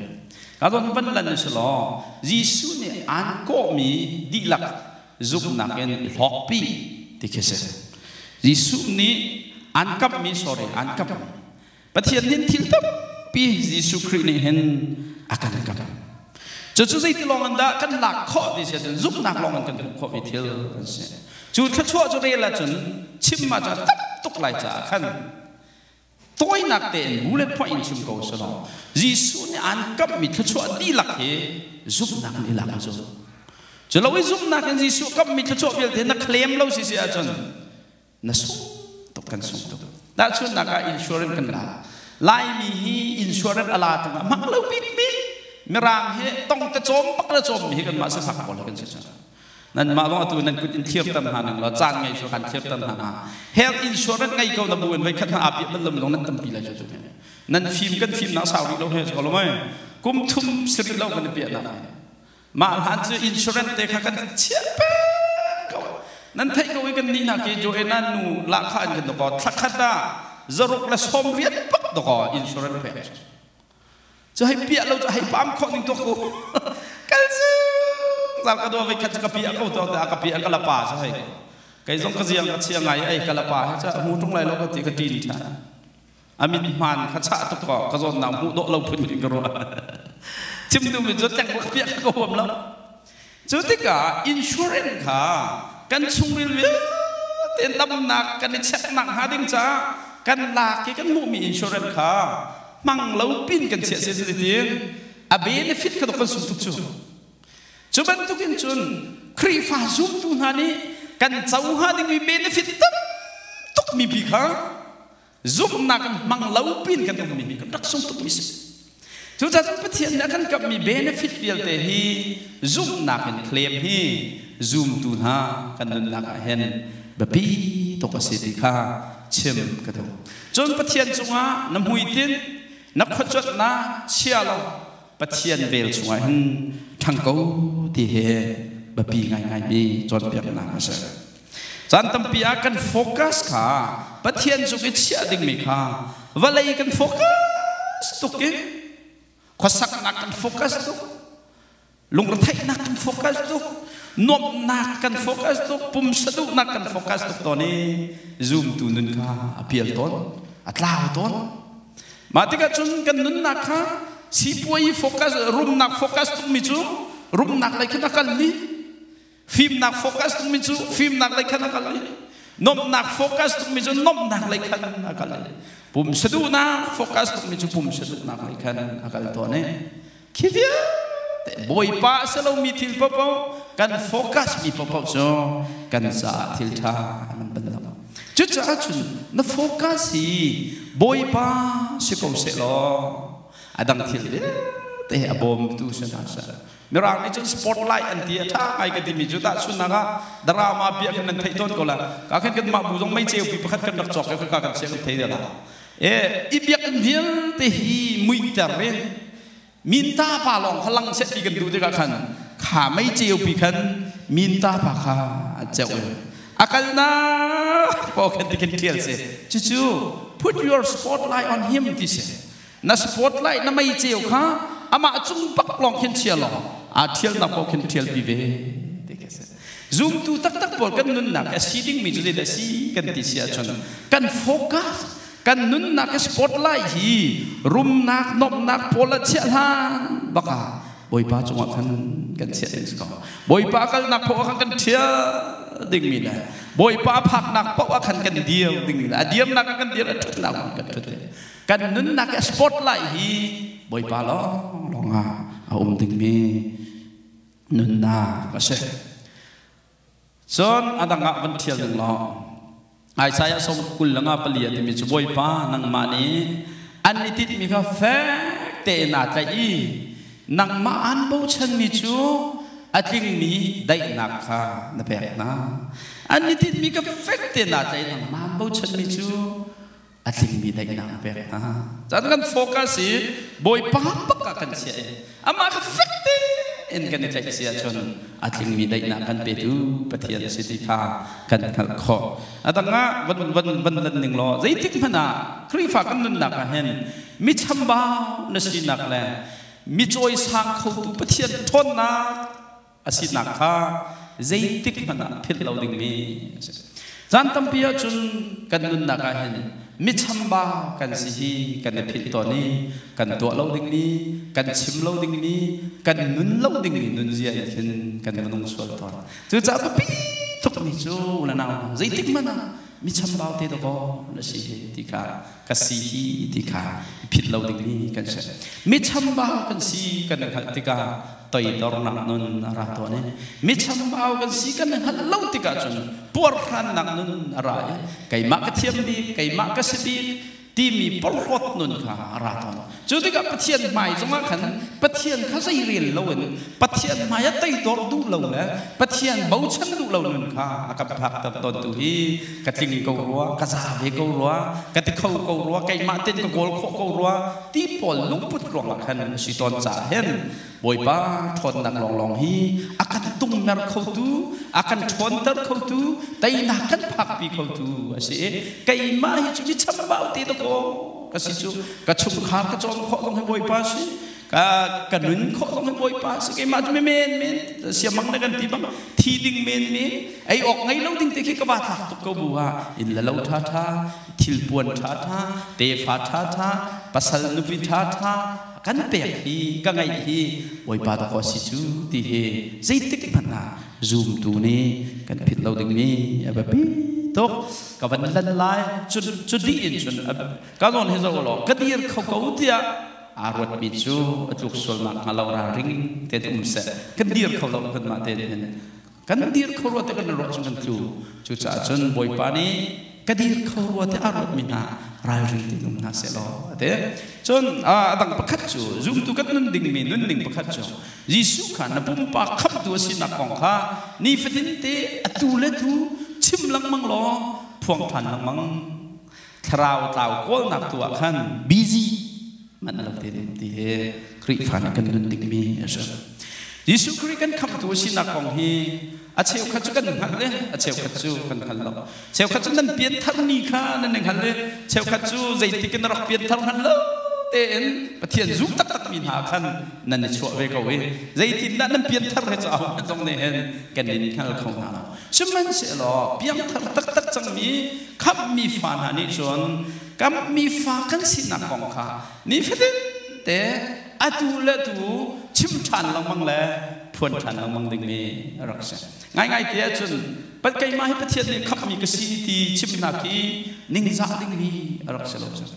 ka zon van lan ni si law Jesuh nih aan kawhmi dihlak zumhnak in hlawkpi ti khi si Jesuh nih aan kamhmi sorry aan kamh Pathian nih thil tampi Jesuh Khrih nih hin a kan kam. Cucu zei tilawng in dah kan lak khawh ve si ahcun zumhnak lawng in kan hmuh khawh ve thil kan si. Cu thluachuah cu rel ahcun chim ahcun a tam tuk lai caah khan tawinak tein bu le phoih in chim ko selaw Jesuh nih aan kamhmi thluachuah dihlak hi zumhnak in i lak cu. Cu lo i zumhnak in Jesuh kamhmi thluachuah vialte na claim lo si si ahcun Na sung tuk kan sung tuk. Tahchunhnak ah insurance kan la. Laimi hi insurance a la tungah mak lo bikbik Mirang hi tong te cawm pak le cawm mi hi kan mah si fak ko lo kan si nan mah bang atu nan kut in thiar tan hna ning lo caan ngei so kan thiar tan hna na health insurance ngai ko na bu in voi khat na api nan lam long nan tampi lai jo tu nan thim kan thim na sau ri lo he ko lo mai kum thum sir lo kan pi na Mah hlan cu insurance te kha kan chiah peng ko. Nan theih ko i kannih nak i Joanna nu lahkhah in kan dokaw thlakhat ah zaruk le sawm riat pak dokaw insurance pek cu. Cu hei piah lo cu hei pam khawh ning tu ku. Kal sung zau ka dua veikhat cu ka piah ko to ta ka piah ka la pa sa hei. Kai zong ka ziang ka chia ngai ai ka la pa he cha mu tung lai lo ka ti ka ṭin ṭhan. a min hmaan kha chah tuk kaw ka zawnnak hmuh dawh lo phun in ka ruah chim duh min cu tlengbuak piak ka huam lo cu tikah insurance kha kan chungril vialte damnak kan i checknak hnga ding caah kan lak i kan hmuhmi insurance kha hmang lo pin kan chiah si tin a benefit ka kan sung tuk cu cu bantukin cun Khrihfa zumtu hna nih kan co hnga dingmi benefit tam tuk mi pi kha zumhnak in hmang lo piin kan ummi hi kan rak sung tukmi si. Cucaah Pathian nih a kan kamhmi benefit vialte hi zumhnak in claim hi zumtu hna kan nunnak ah hin biapi tuk a si ti kha chim ka duh. Cun Pathian cungah na hmuitinh, na khuacuatnak chia law Pathian vel chungah hin ṭhang ko ti hi biapi ngaingaimi cawnpiaknak a si. Caan tampi ah kan focus kha Pathian cung i chiah dingmi kha vawlei kan focus tuk in khuasaknak kan focus tuk lungretheihnak kan focus tuk nuamhnak kan focus tuk pumsa duhnak kan focus tuk tawn i zumtu nun kha a pial tawn a tlau tawn mah tikah cun kan nunnak kha sipuai focus rumnak focus tukmi cu rumnak lei khin a kalmi Fimnak focus tungmi cu fimnak lei khan a kal i nomnak focus tungmi cu nomnak lei khan a kal i pum saduhnak focus tungmi cu pum saduhnak lei khan a kal tawn i khi vialte Bawipa a si lomi thil paohpaoh kan focus mi paohpaoh cu kan caah thil ṭha an ban lo cucaah cun na focus hi Bawipa si ko seh law a dang thil vialte a bawmtu si hna seh Mirang nih cun spotlight an ti a ṭha ngai ka timi cu tahchunhnak ah drama bia khan nan theih tawn ko lai. Ka khin kanmah bu zong meiceu fi pakhat kan rak cawk i khaka kan siang i thei dela. Eh, i biakinn vialte hi muihter in minta pa lawng kha lang set ti kan duh tikah khan kha meiceu pi khan minta pa kha an ceuh i a kalnak paw khan ti khin ṭhial si. Cucu put your spotlight on him ti si. Na spotlight na meiceu kha amah cung bak lawng khin chia law aa ṭhialnak paoh khin ṭhialpi ve ti khi a si. Zumtu taktak pawl kan nunnak hi a si dingmi cu zeidah a si kan ti si ahcun kan focus kan nunnak hi spotlight hi rumnak nomhnak pawl a chiah hlan bak ah Bawipa cungah khan kan chiah ding si ko. Bawipa kalnak paoh ah khan kan ṭhial dingmi le Bawipa phaknak paoh ah khan kan dir dingmi le a diamnak ah kan dir a ṭhatnak kan ṭhat ding. Kan nunnak i a spotlight hi Bawipa lawnglawng ah a um dingmi nunnak a si. Cun a dang ah van thial ning law Isaiah sawm kul langa pali a timi cu Bawipa nangmah nih an i titmi kha fek tein aa tlaih i nangmah aan bochanmi cu a tlingmi daihnak kha na pek hna. An i titmi ka fek tein aa tlaih nangmah aan bochanmi cu a tlingmi daihnak a pek hna. Cun kan focus i Bawipa bak ah kan chiah i amah kha fekte in kan i tlaih si ahcun a tlingmi daihnak kan petu Pathian si ti kha kan hngalh khawh. A dang ah van van van lan ning law zeitik hmanh ah Khrihfa kan nunnak ah hin mi chambau na sinak le mi cawisang khotu Pathian ṭhawnnak a sinak kha zeitikhmanh ah philh lo dingmi a si. Caan tampi ahcun kan nunnak ah hin michamba kan si hi kan i philh tawn i kan tuah lo dingmi, kan chim lo dingmi, kan nun lo dingmi nunzia nih hin kan minung sual tawn. Cucaah biapi tukmi cu le nau zeitik hmanh ah michambau te dawkaw na si hi ti kha ka si hi ti kha phit lo dingmi kan si. Michambau kan si kan na hngalh tikah toidornak nun a ra tawn i michambau kan si kan na hngalh lo tikah cun puarhrannak nun a ra i keimah ka thiam bik keimah ka si bik timi porhlawt nun kha a ra tawn. Cu tikah Pathian hmai zongah khan Pathian kha zei rel loin Pathian hmaiah tei dawr duh lo le Pathian bochan duh lo nun kha a kan phakter tawntu hi ka tling ko rua, ka za ve ko rua, ka ti kho ko rua, keimah tein ka kawl khawh ko rua ti pawl lungput ruangah khan a si tawn caah hin Bawipa ṭhawnnak lawnglawng hi a kan tungmer khotu, a kan ṭhawnter khotu, teinak kan phakpi khotu a si i keimah hi cu mi chambau te dakaw ka si cu ka chungkhar ka cawn khawh zong hi Bawipa si ka ka nun khawh zong hi Bawipa si keimah cu men men siamang na kan ti bang thi ding men men ei awk ngei lo ding te khi ka va thlak tuk ko bu ah in la lo ṭha ṭha thilpuan ṭha ṭha tefa ṭha ṭha pasal nupi ṭha ṭha kan pek hi ka ngaih hi Bawipa dawh a si cu ti hi zeitik hmanh ah zumtu nih kan philh lo dingmi a biapi tuk ka van lan lai cun cu dih in cun ka nawn hi zoh law ka dir kho ko tiah aa ruatmi cu a tluk sual nak hnga lo ralring te um seh kan dir kho lo kan mah te in Kan dir kho rua tiah kan i ruah chung kan tlu. Cucaah cun Bawipa nih ka dir kho rua tiah a ruatmi hna ralring tein um hna seh law a ti. Cun a dang pakhat cu zumtu kan nun dingmi nunning pakhat cu Jesuh kha na pumpak khamhtu a sinak kong kha nifatinte atu le tu chim lengmang law phuangthan lengmang thlarau tlau kawlnak tu ah khan busy man lo te ding ti hi Khrihfa nih kan nun dingmi a si. Jesuh Khrih kan khamhtu sinak kong hi a cheukhat cu kan hngalh i a cheukhat cu kan hngal lo. Cheukhat cu nan pianthar kha nan i hngal i cheukhat cu zeitik in na rak pianthar hngal lo tein Pathian zuk taktakmi hna khan nan i chuah ve ko i zeitindah nan pianthar he cu ahun zong nih hin kan in hngal kho hna lo. Sihmanhsehlaw piangthar taktak cangmi khamhmi fa hna nih cun kamhmi fa kan sinak kong kha nifatin-te atu le atu chim ṭhan lengmang le phuan ṭhan lengmang dingmi a rak si. Ngaingaite ah cun pat keimah hi Pathian nih khamhmi ka si ti chimnak hi ningzah dingmi a rak si lo cang.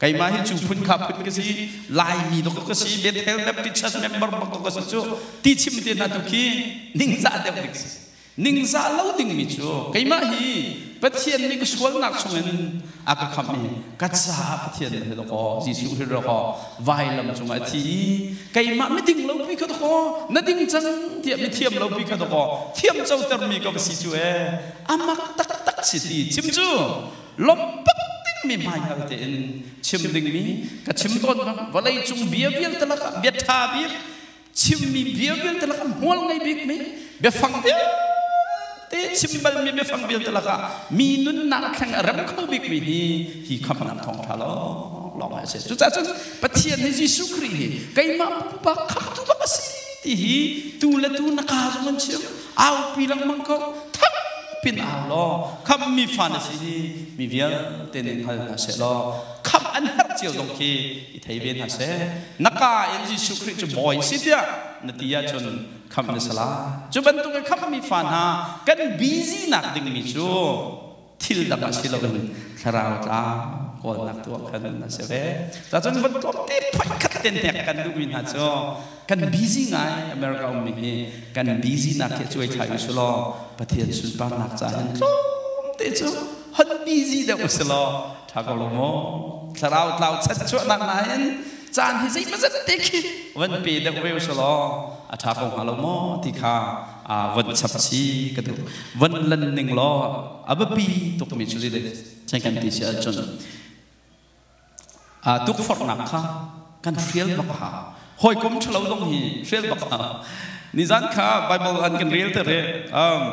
keimah hi cu phun kha phun ka si laimi doktor ka si bethel baptist member doktor ka si cu ti chim te hna tu khi ningzah deuh ding si ningzah lo dingmi cu keimah hi pathian nih ka sualnak chungin a ka khamh i ka caah pathian na hil ko jesuh hil ro ko vailam cungah a thi i keimah miding lo pi ka to ko na ding cang tiah mithiam lo pi ka to ko thiam co termi ka ka si cu e amak taktak si ti chim cu Lawmhbak dingmi hmaikal tein chim dingmi ka chim tawn bang vawleicung bia vialte lakah bia ṭha bik, chimmi bia vialte lakah hmual ngei bikmi, biafang vialte chim balmi biafang vialte lakah mi nunnak theng a rem kho bikmi hi hi khamhnak thawngṭha lawng a si. Cucaah Pathian hi Jesuh Khrih hi keimah pupa khamtu bak a si ti hi tu le tu na kaa zong an chim. aupi lengmang ko thak pin au law kham mi fa na si ni mi vialte nih hngal hna seh law kham an herh cio zong khi i thei ve hna seh na ka in Jesuh Khrih cu bawi si tiah na ti ahcun kham na sala cu bantuk i kham mi fa hna kan busy nak ding mi cu thil dang a si loin thlarau tla kawlnak tuah kan a si ve cacun vun tlawm te phoikhat ten hnek kan duhmi hna cu kan busy ngai america ummi hi kan busy nak hi cuai thai usu law pathian sunparnak ca hin tlawm te cu hon busy deuh usi law tha ko lo mo thlarau tlau chat chuahnak na hin caan hi zeimazat te khi van pe deuh ve usu law a tha ko hnga lo mo ti kha aa von chap chih ka duh. Von lan ning law a biapi tukmi cu lile thai kan ti si ahcun aa tukforhnak kha kan hrial bak ha. Hawikom ṭhalo zong hi hrial bak ha. Nizan kha Bible an kan rel te re. Um,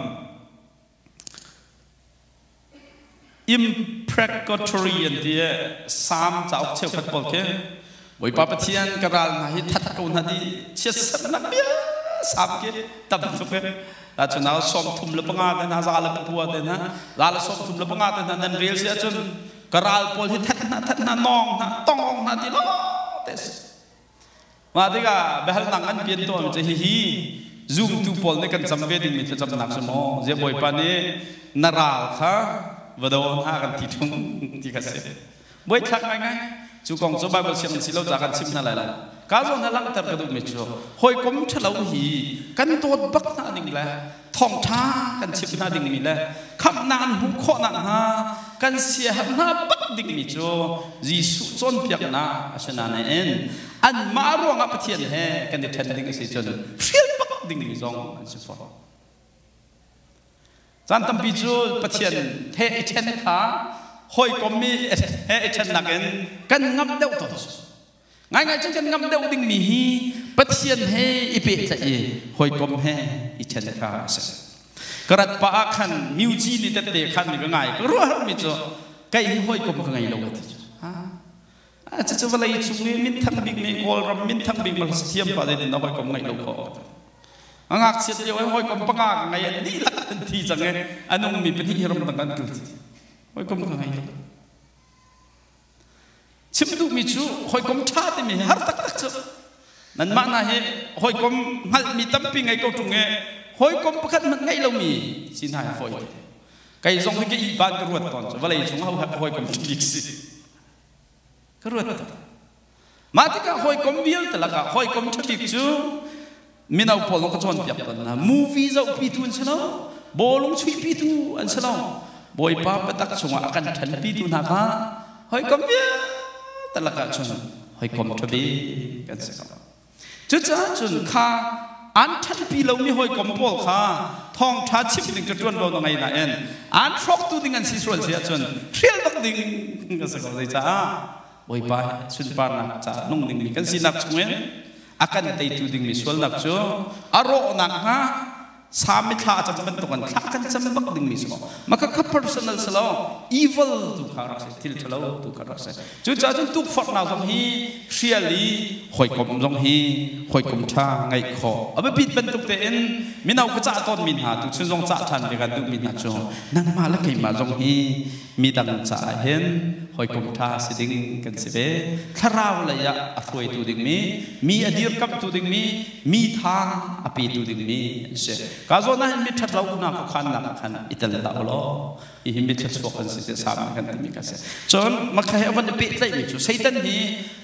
Imprecatory an ti i Salm cauk cheukhat pawl khi Bawipa Pathian ka ral hna hi that ko hna di chiatsannak biasam khi tam tuk hi ta cu na som thum le panga te hna za le pua te hna za le som thum le panga te hna nan rel si ahcun ka ral pawl hi that hna that hna nong hna tongong hna ti lo te si Mah tikah biahalnak an pian tawnmi cu hihi, Zumtu pawl nih kan cam ve dingmi thlacamnak cu maw ziah Bawipa nih na ral kha va do hna kan ti ṭung ti kha si. Buaithlak ngaingai! Cu kong cu Baibal siang nan si lo caah kan chimh hna lai lo. Kaa zawn he langhter ka duhmi cu, hawikom ṭhalo hi kan dawt bak hna ning le thawngṭha kan chimh hna dingmi le khamhnak an hmuh khawh nakhnga kan siaherh hna bak dingmi cu Jesuh cawnpiaknak a si nain anmah ruangah Pathian he kan i ṭhen ding a si cun hrial bak dingmi zong an si fawn. Caan tampi cu Pathian he i ṭhen kha hawikom i he i ṭhennak in kan ngamh deuh tawn. Ngaingai cu kan ngamh deuh dingmi hi Pathian he i pehtlaih i hawikom he i ṭhen kha a si. Ka rat pah ah khan Myuji nih tette khan nih ka ngai ka ruahmi cu kei hi hawikom ka ngei lo a ti cu. Cucu vawlei cung i minthang bik nih Kawlram minthang bik hmasa thiam pa zetin na hawikom ngeih lo kaw. A ngakchiat lio i hawikom panga ka ngei an dihlak an thi cang i a nungmi pahnih hi ramdang an kal. Hawikom ka ngei lo. Chim duhmi cu hawikom ṭha timi hi har taktak cu. Nanmah hna hi hawikom hngalhmi tampi ngei ko ṭung i hawikom pakhat hmanh ngei lomi si hna hi fawi te. Kei zong hi ka ihban ka ruat tawn cu vawlei cung hawikom bik si. Ka ruat tawn. Mah tikah hawikom vialte lakah hawikom ṭhabik cu mino pawl nih ka cawnpiak tawn hna. Movie zohpitu an si lo, bawlung chuihpitu an si lo, Bawipa biatak chungah a kan ṭhanpitu hna kha hawikom vialte lakah cun hawikom ṭhabik kan si ko. Cucaah cun kha an ṭhanpi lomi hawikom pawl kha thawngṭha chim ding ka ṭuan law na ngei nain an hrawktu ding an si sual si ahcun hrial bak ding ka si ko. Zeicah? Bawipa he sunparnak caah nung dingmi kan sinak chungin a kan teitu dingmi sualnak cu a rawh nakhnga Salm i thla a cam bantuk in thla kan cam bak dingmi si maw? Mah kha kha personal si law evil tu kha rak si, thil ṭhalo tu kha rak si. Cucaah cun tukforhnak zong hi hrial i hawikom zong hi hawikom ṭha ngeih khawh. A biapit bantuk tein mino ka cah tawnmi hna, tuchun zong cah ṭhan ve kan duhmi hna cu nangmah le keimah zong hi midang caah hin hawikom ṭha si ding kan si ve. Thlarau lei ah a hruaitu dingmi, mi a dirkamhtu dingmi, mi tha a petu dingmi an si. Kaa zawn ah hin miṭhat lonak khuakhannak ah khan i tel hlah ulaw hihi miṭha chuak kan si tiah salm nih kan timi kan si. Cun makha he a von i pehtlaihmi cu Satan hi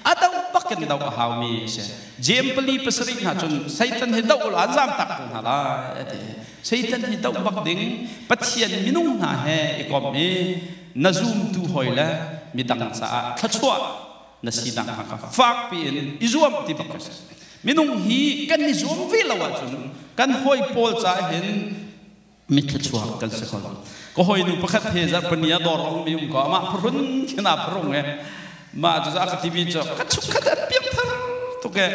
a doh bak in doh a haumi a si. Jeim pali pasarih hna cun Satan hi doh ulaw an zamtak ko hna lai a ti. Satan hi doh bak ding Pathian minung hna he i kom i na zumtu hawi le midang caah thluachuah na sinak hna kha fakpi in i zuam ti bak a si. Minung hi kan i zuam ve lo ahcun kan hawi pawl caah hin mitthluachuak kan si kho lo. Ka hawinu pakhat he zarhpini ah dawr a ummi um ko, amah phuhrun khin aa phrung i mah cu a ka timi cu ka chungkhat an piangthar tuk i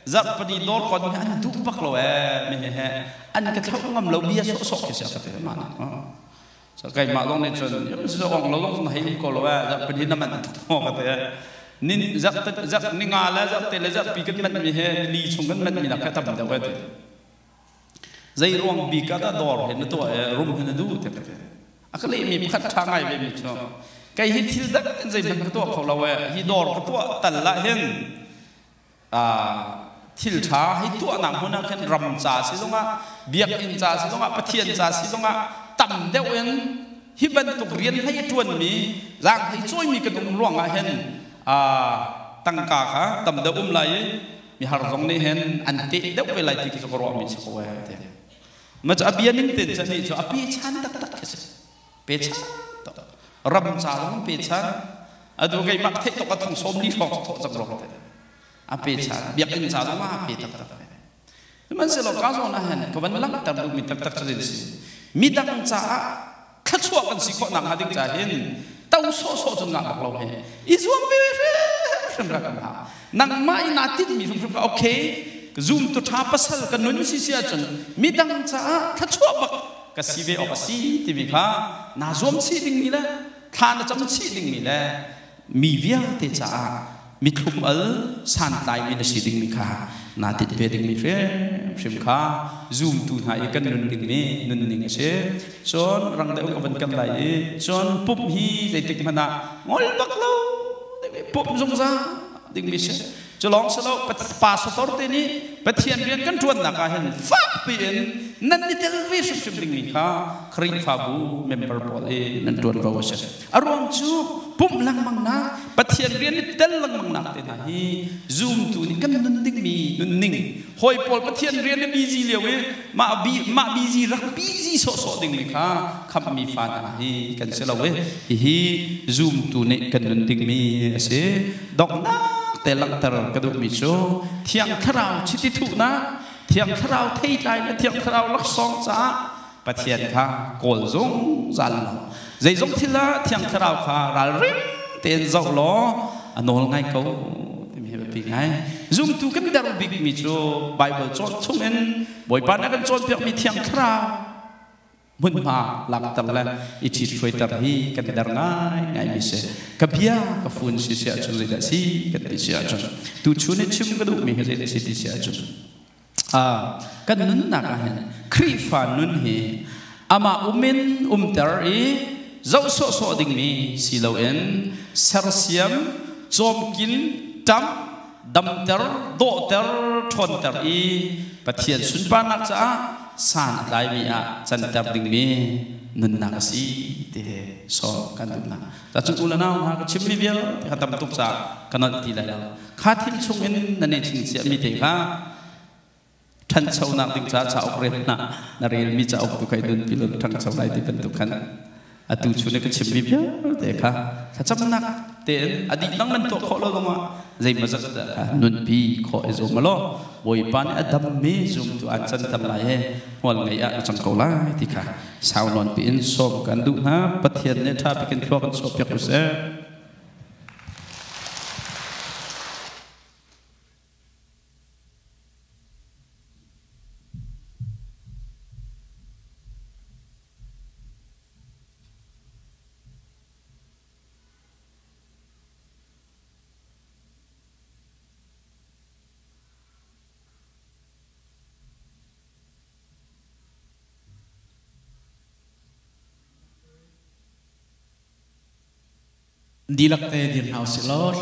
zarhpini dawr kon hi an duh bak lo ee, me he an ka thlo ngam lo bia sawhsawh khi si a ka ti. Mah keimah lawng nih cun zawng lo lawng na hei um ko lo eh zarh pahnih na man thawng ka te nin zarh zarh ni nga le zarh te le zarh pi kan man mi he ni chung kan man mi nak ka tam deuh eh ti zei ruang bi ka da dor he na to eh rum he na du te te aka le mi pakhat tha ngai ve mi chu kai hi thil dak in zei man ka to kho lo eh hi dor ka to tal la hen thil ṭha hi tuahnak hmun ah khin ram ca silongah biakinn ca silongah pathian ca silongah tam deuh in hi bantuk rian hlei ṭuanmi zaang hlei cawimi kan um ruangah hin tangka kha tam deuh um lai i mihar zong nih hin an teh deuh ve lai ti khi ka ruahmi si ko ee ti macam a bia min ten chan nih cu a pe chan taktak a si pechan ram ca zong pechan adu keimah theih tuk a thong som ni hrawng thawh cang rong te a pechan biakinn ca zong a pe tak tak sihmanhsehlaw ka zawn ah hen ka van langhter duh mi tak tak cu din si mi dang caah thlachuah kan si khawh nak hnga ding cahin to sawh sawh cun ngah bak lo he i zuam ve hrim ka kan ha nangmah i naa tin mi hrimhrim ka okay zoom tu tha pasal ka nun si si ahcun mi dang caah thlachuah bak ka si ve awk a si timi kha naa zuam chih dingmi le thla na cam chih dingmi le mi vialte caah mithlum al santlaimi na si dingmi kha naa tit ve dingmi hrimhrim kha zumtu hna i kan nunning mi nunning a si cun rang deuh ka van kan lai i cun pump hi zeitik hmanh ah ngol bak lo pump zungzal dingmi si Cu lawng si lo, pa sator te nih Pathian rian kan ṭuannak ah hin fakpi in nan i tel ve hrimhrim dingmi kha Khrihfabu member pawl i nan ṭuan ko a si. A ruang cu pumh lengmangnak, Pathian rian i tel lengmangnak te hna hi zumtu nih kan nun dingmi nunning Hawi pawl Pathian rian a busy lio i mah, mah busy rak busy sawhsawh dingmi kha khamhmi fa hna hi kan si lo i hihi zumtu nih kan nun dingmi a si. Donghnak te langhter ka duhmi cu Thiang Thlarau chiti thuhnak, Thiang Thlarau theitlai le Thiang Thlarau laksawng caah Pathian kha kawl zungzal law zeizong thil ah Thiang Thlarau kha ralring tein zoh law a nawl ngai ko timi hi biapi ngai. Zumtu kan der bikmi cu Baibal cawn chung in Bawipa na kan cawnpiakmi Thiang Thlarau hmunhma lakter le i ṭhit hruaiter hi kan der ngai ngaimi si. Ka bia ka fun si si ahcun zeidah si kan ti si ahcun tuchun i chim ka duhmi hi zeidah si ti si ahcun kan nunnak ahhin Khrihfa nun hi amah um in umter i zoh sawhsawh dingmi si loin sersiam, cawmkin, ṭamh, damter, dawhter, ṭhawnter i Pathian sunparnak caah san a tlaimi ah canter dingmi nunnak a si ti he sawm kan duh hna. Cucu unau hna ka chimmi vialte kha tam tuk caah ka nolh ti lai lo. Kha thil chungin na nehching cia mi te kha ṭhanchonak ding caah cauk rel hlah. Na relmi cauk tu kha i nunpi law na ṭhangcho lai ti bantuk khan atu chun i ka chimmi vialte kha thlacamnak tein a dih bang nan tuah khawh lo zongah zeimaw zat dah kha nunpi khawh i zuam law Bawipa nih a dammi zumtu aan canter lai i hmual ngei ah na cang ko lai ti kha sau nawn piin sawm kan duh hna pathian nih ṭha pikin thlua kan sawhpiak usih dihlak te dir hna usih law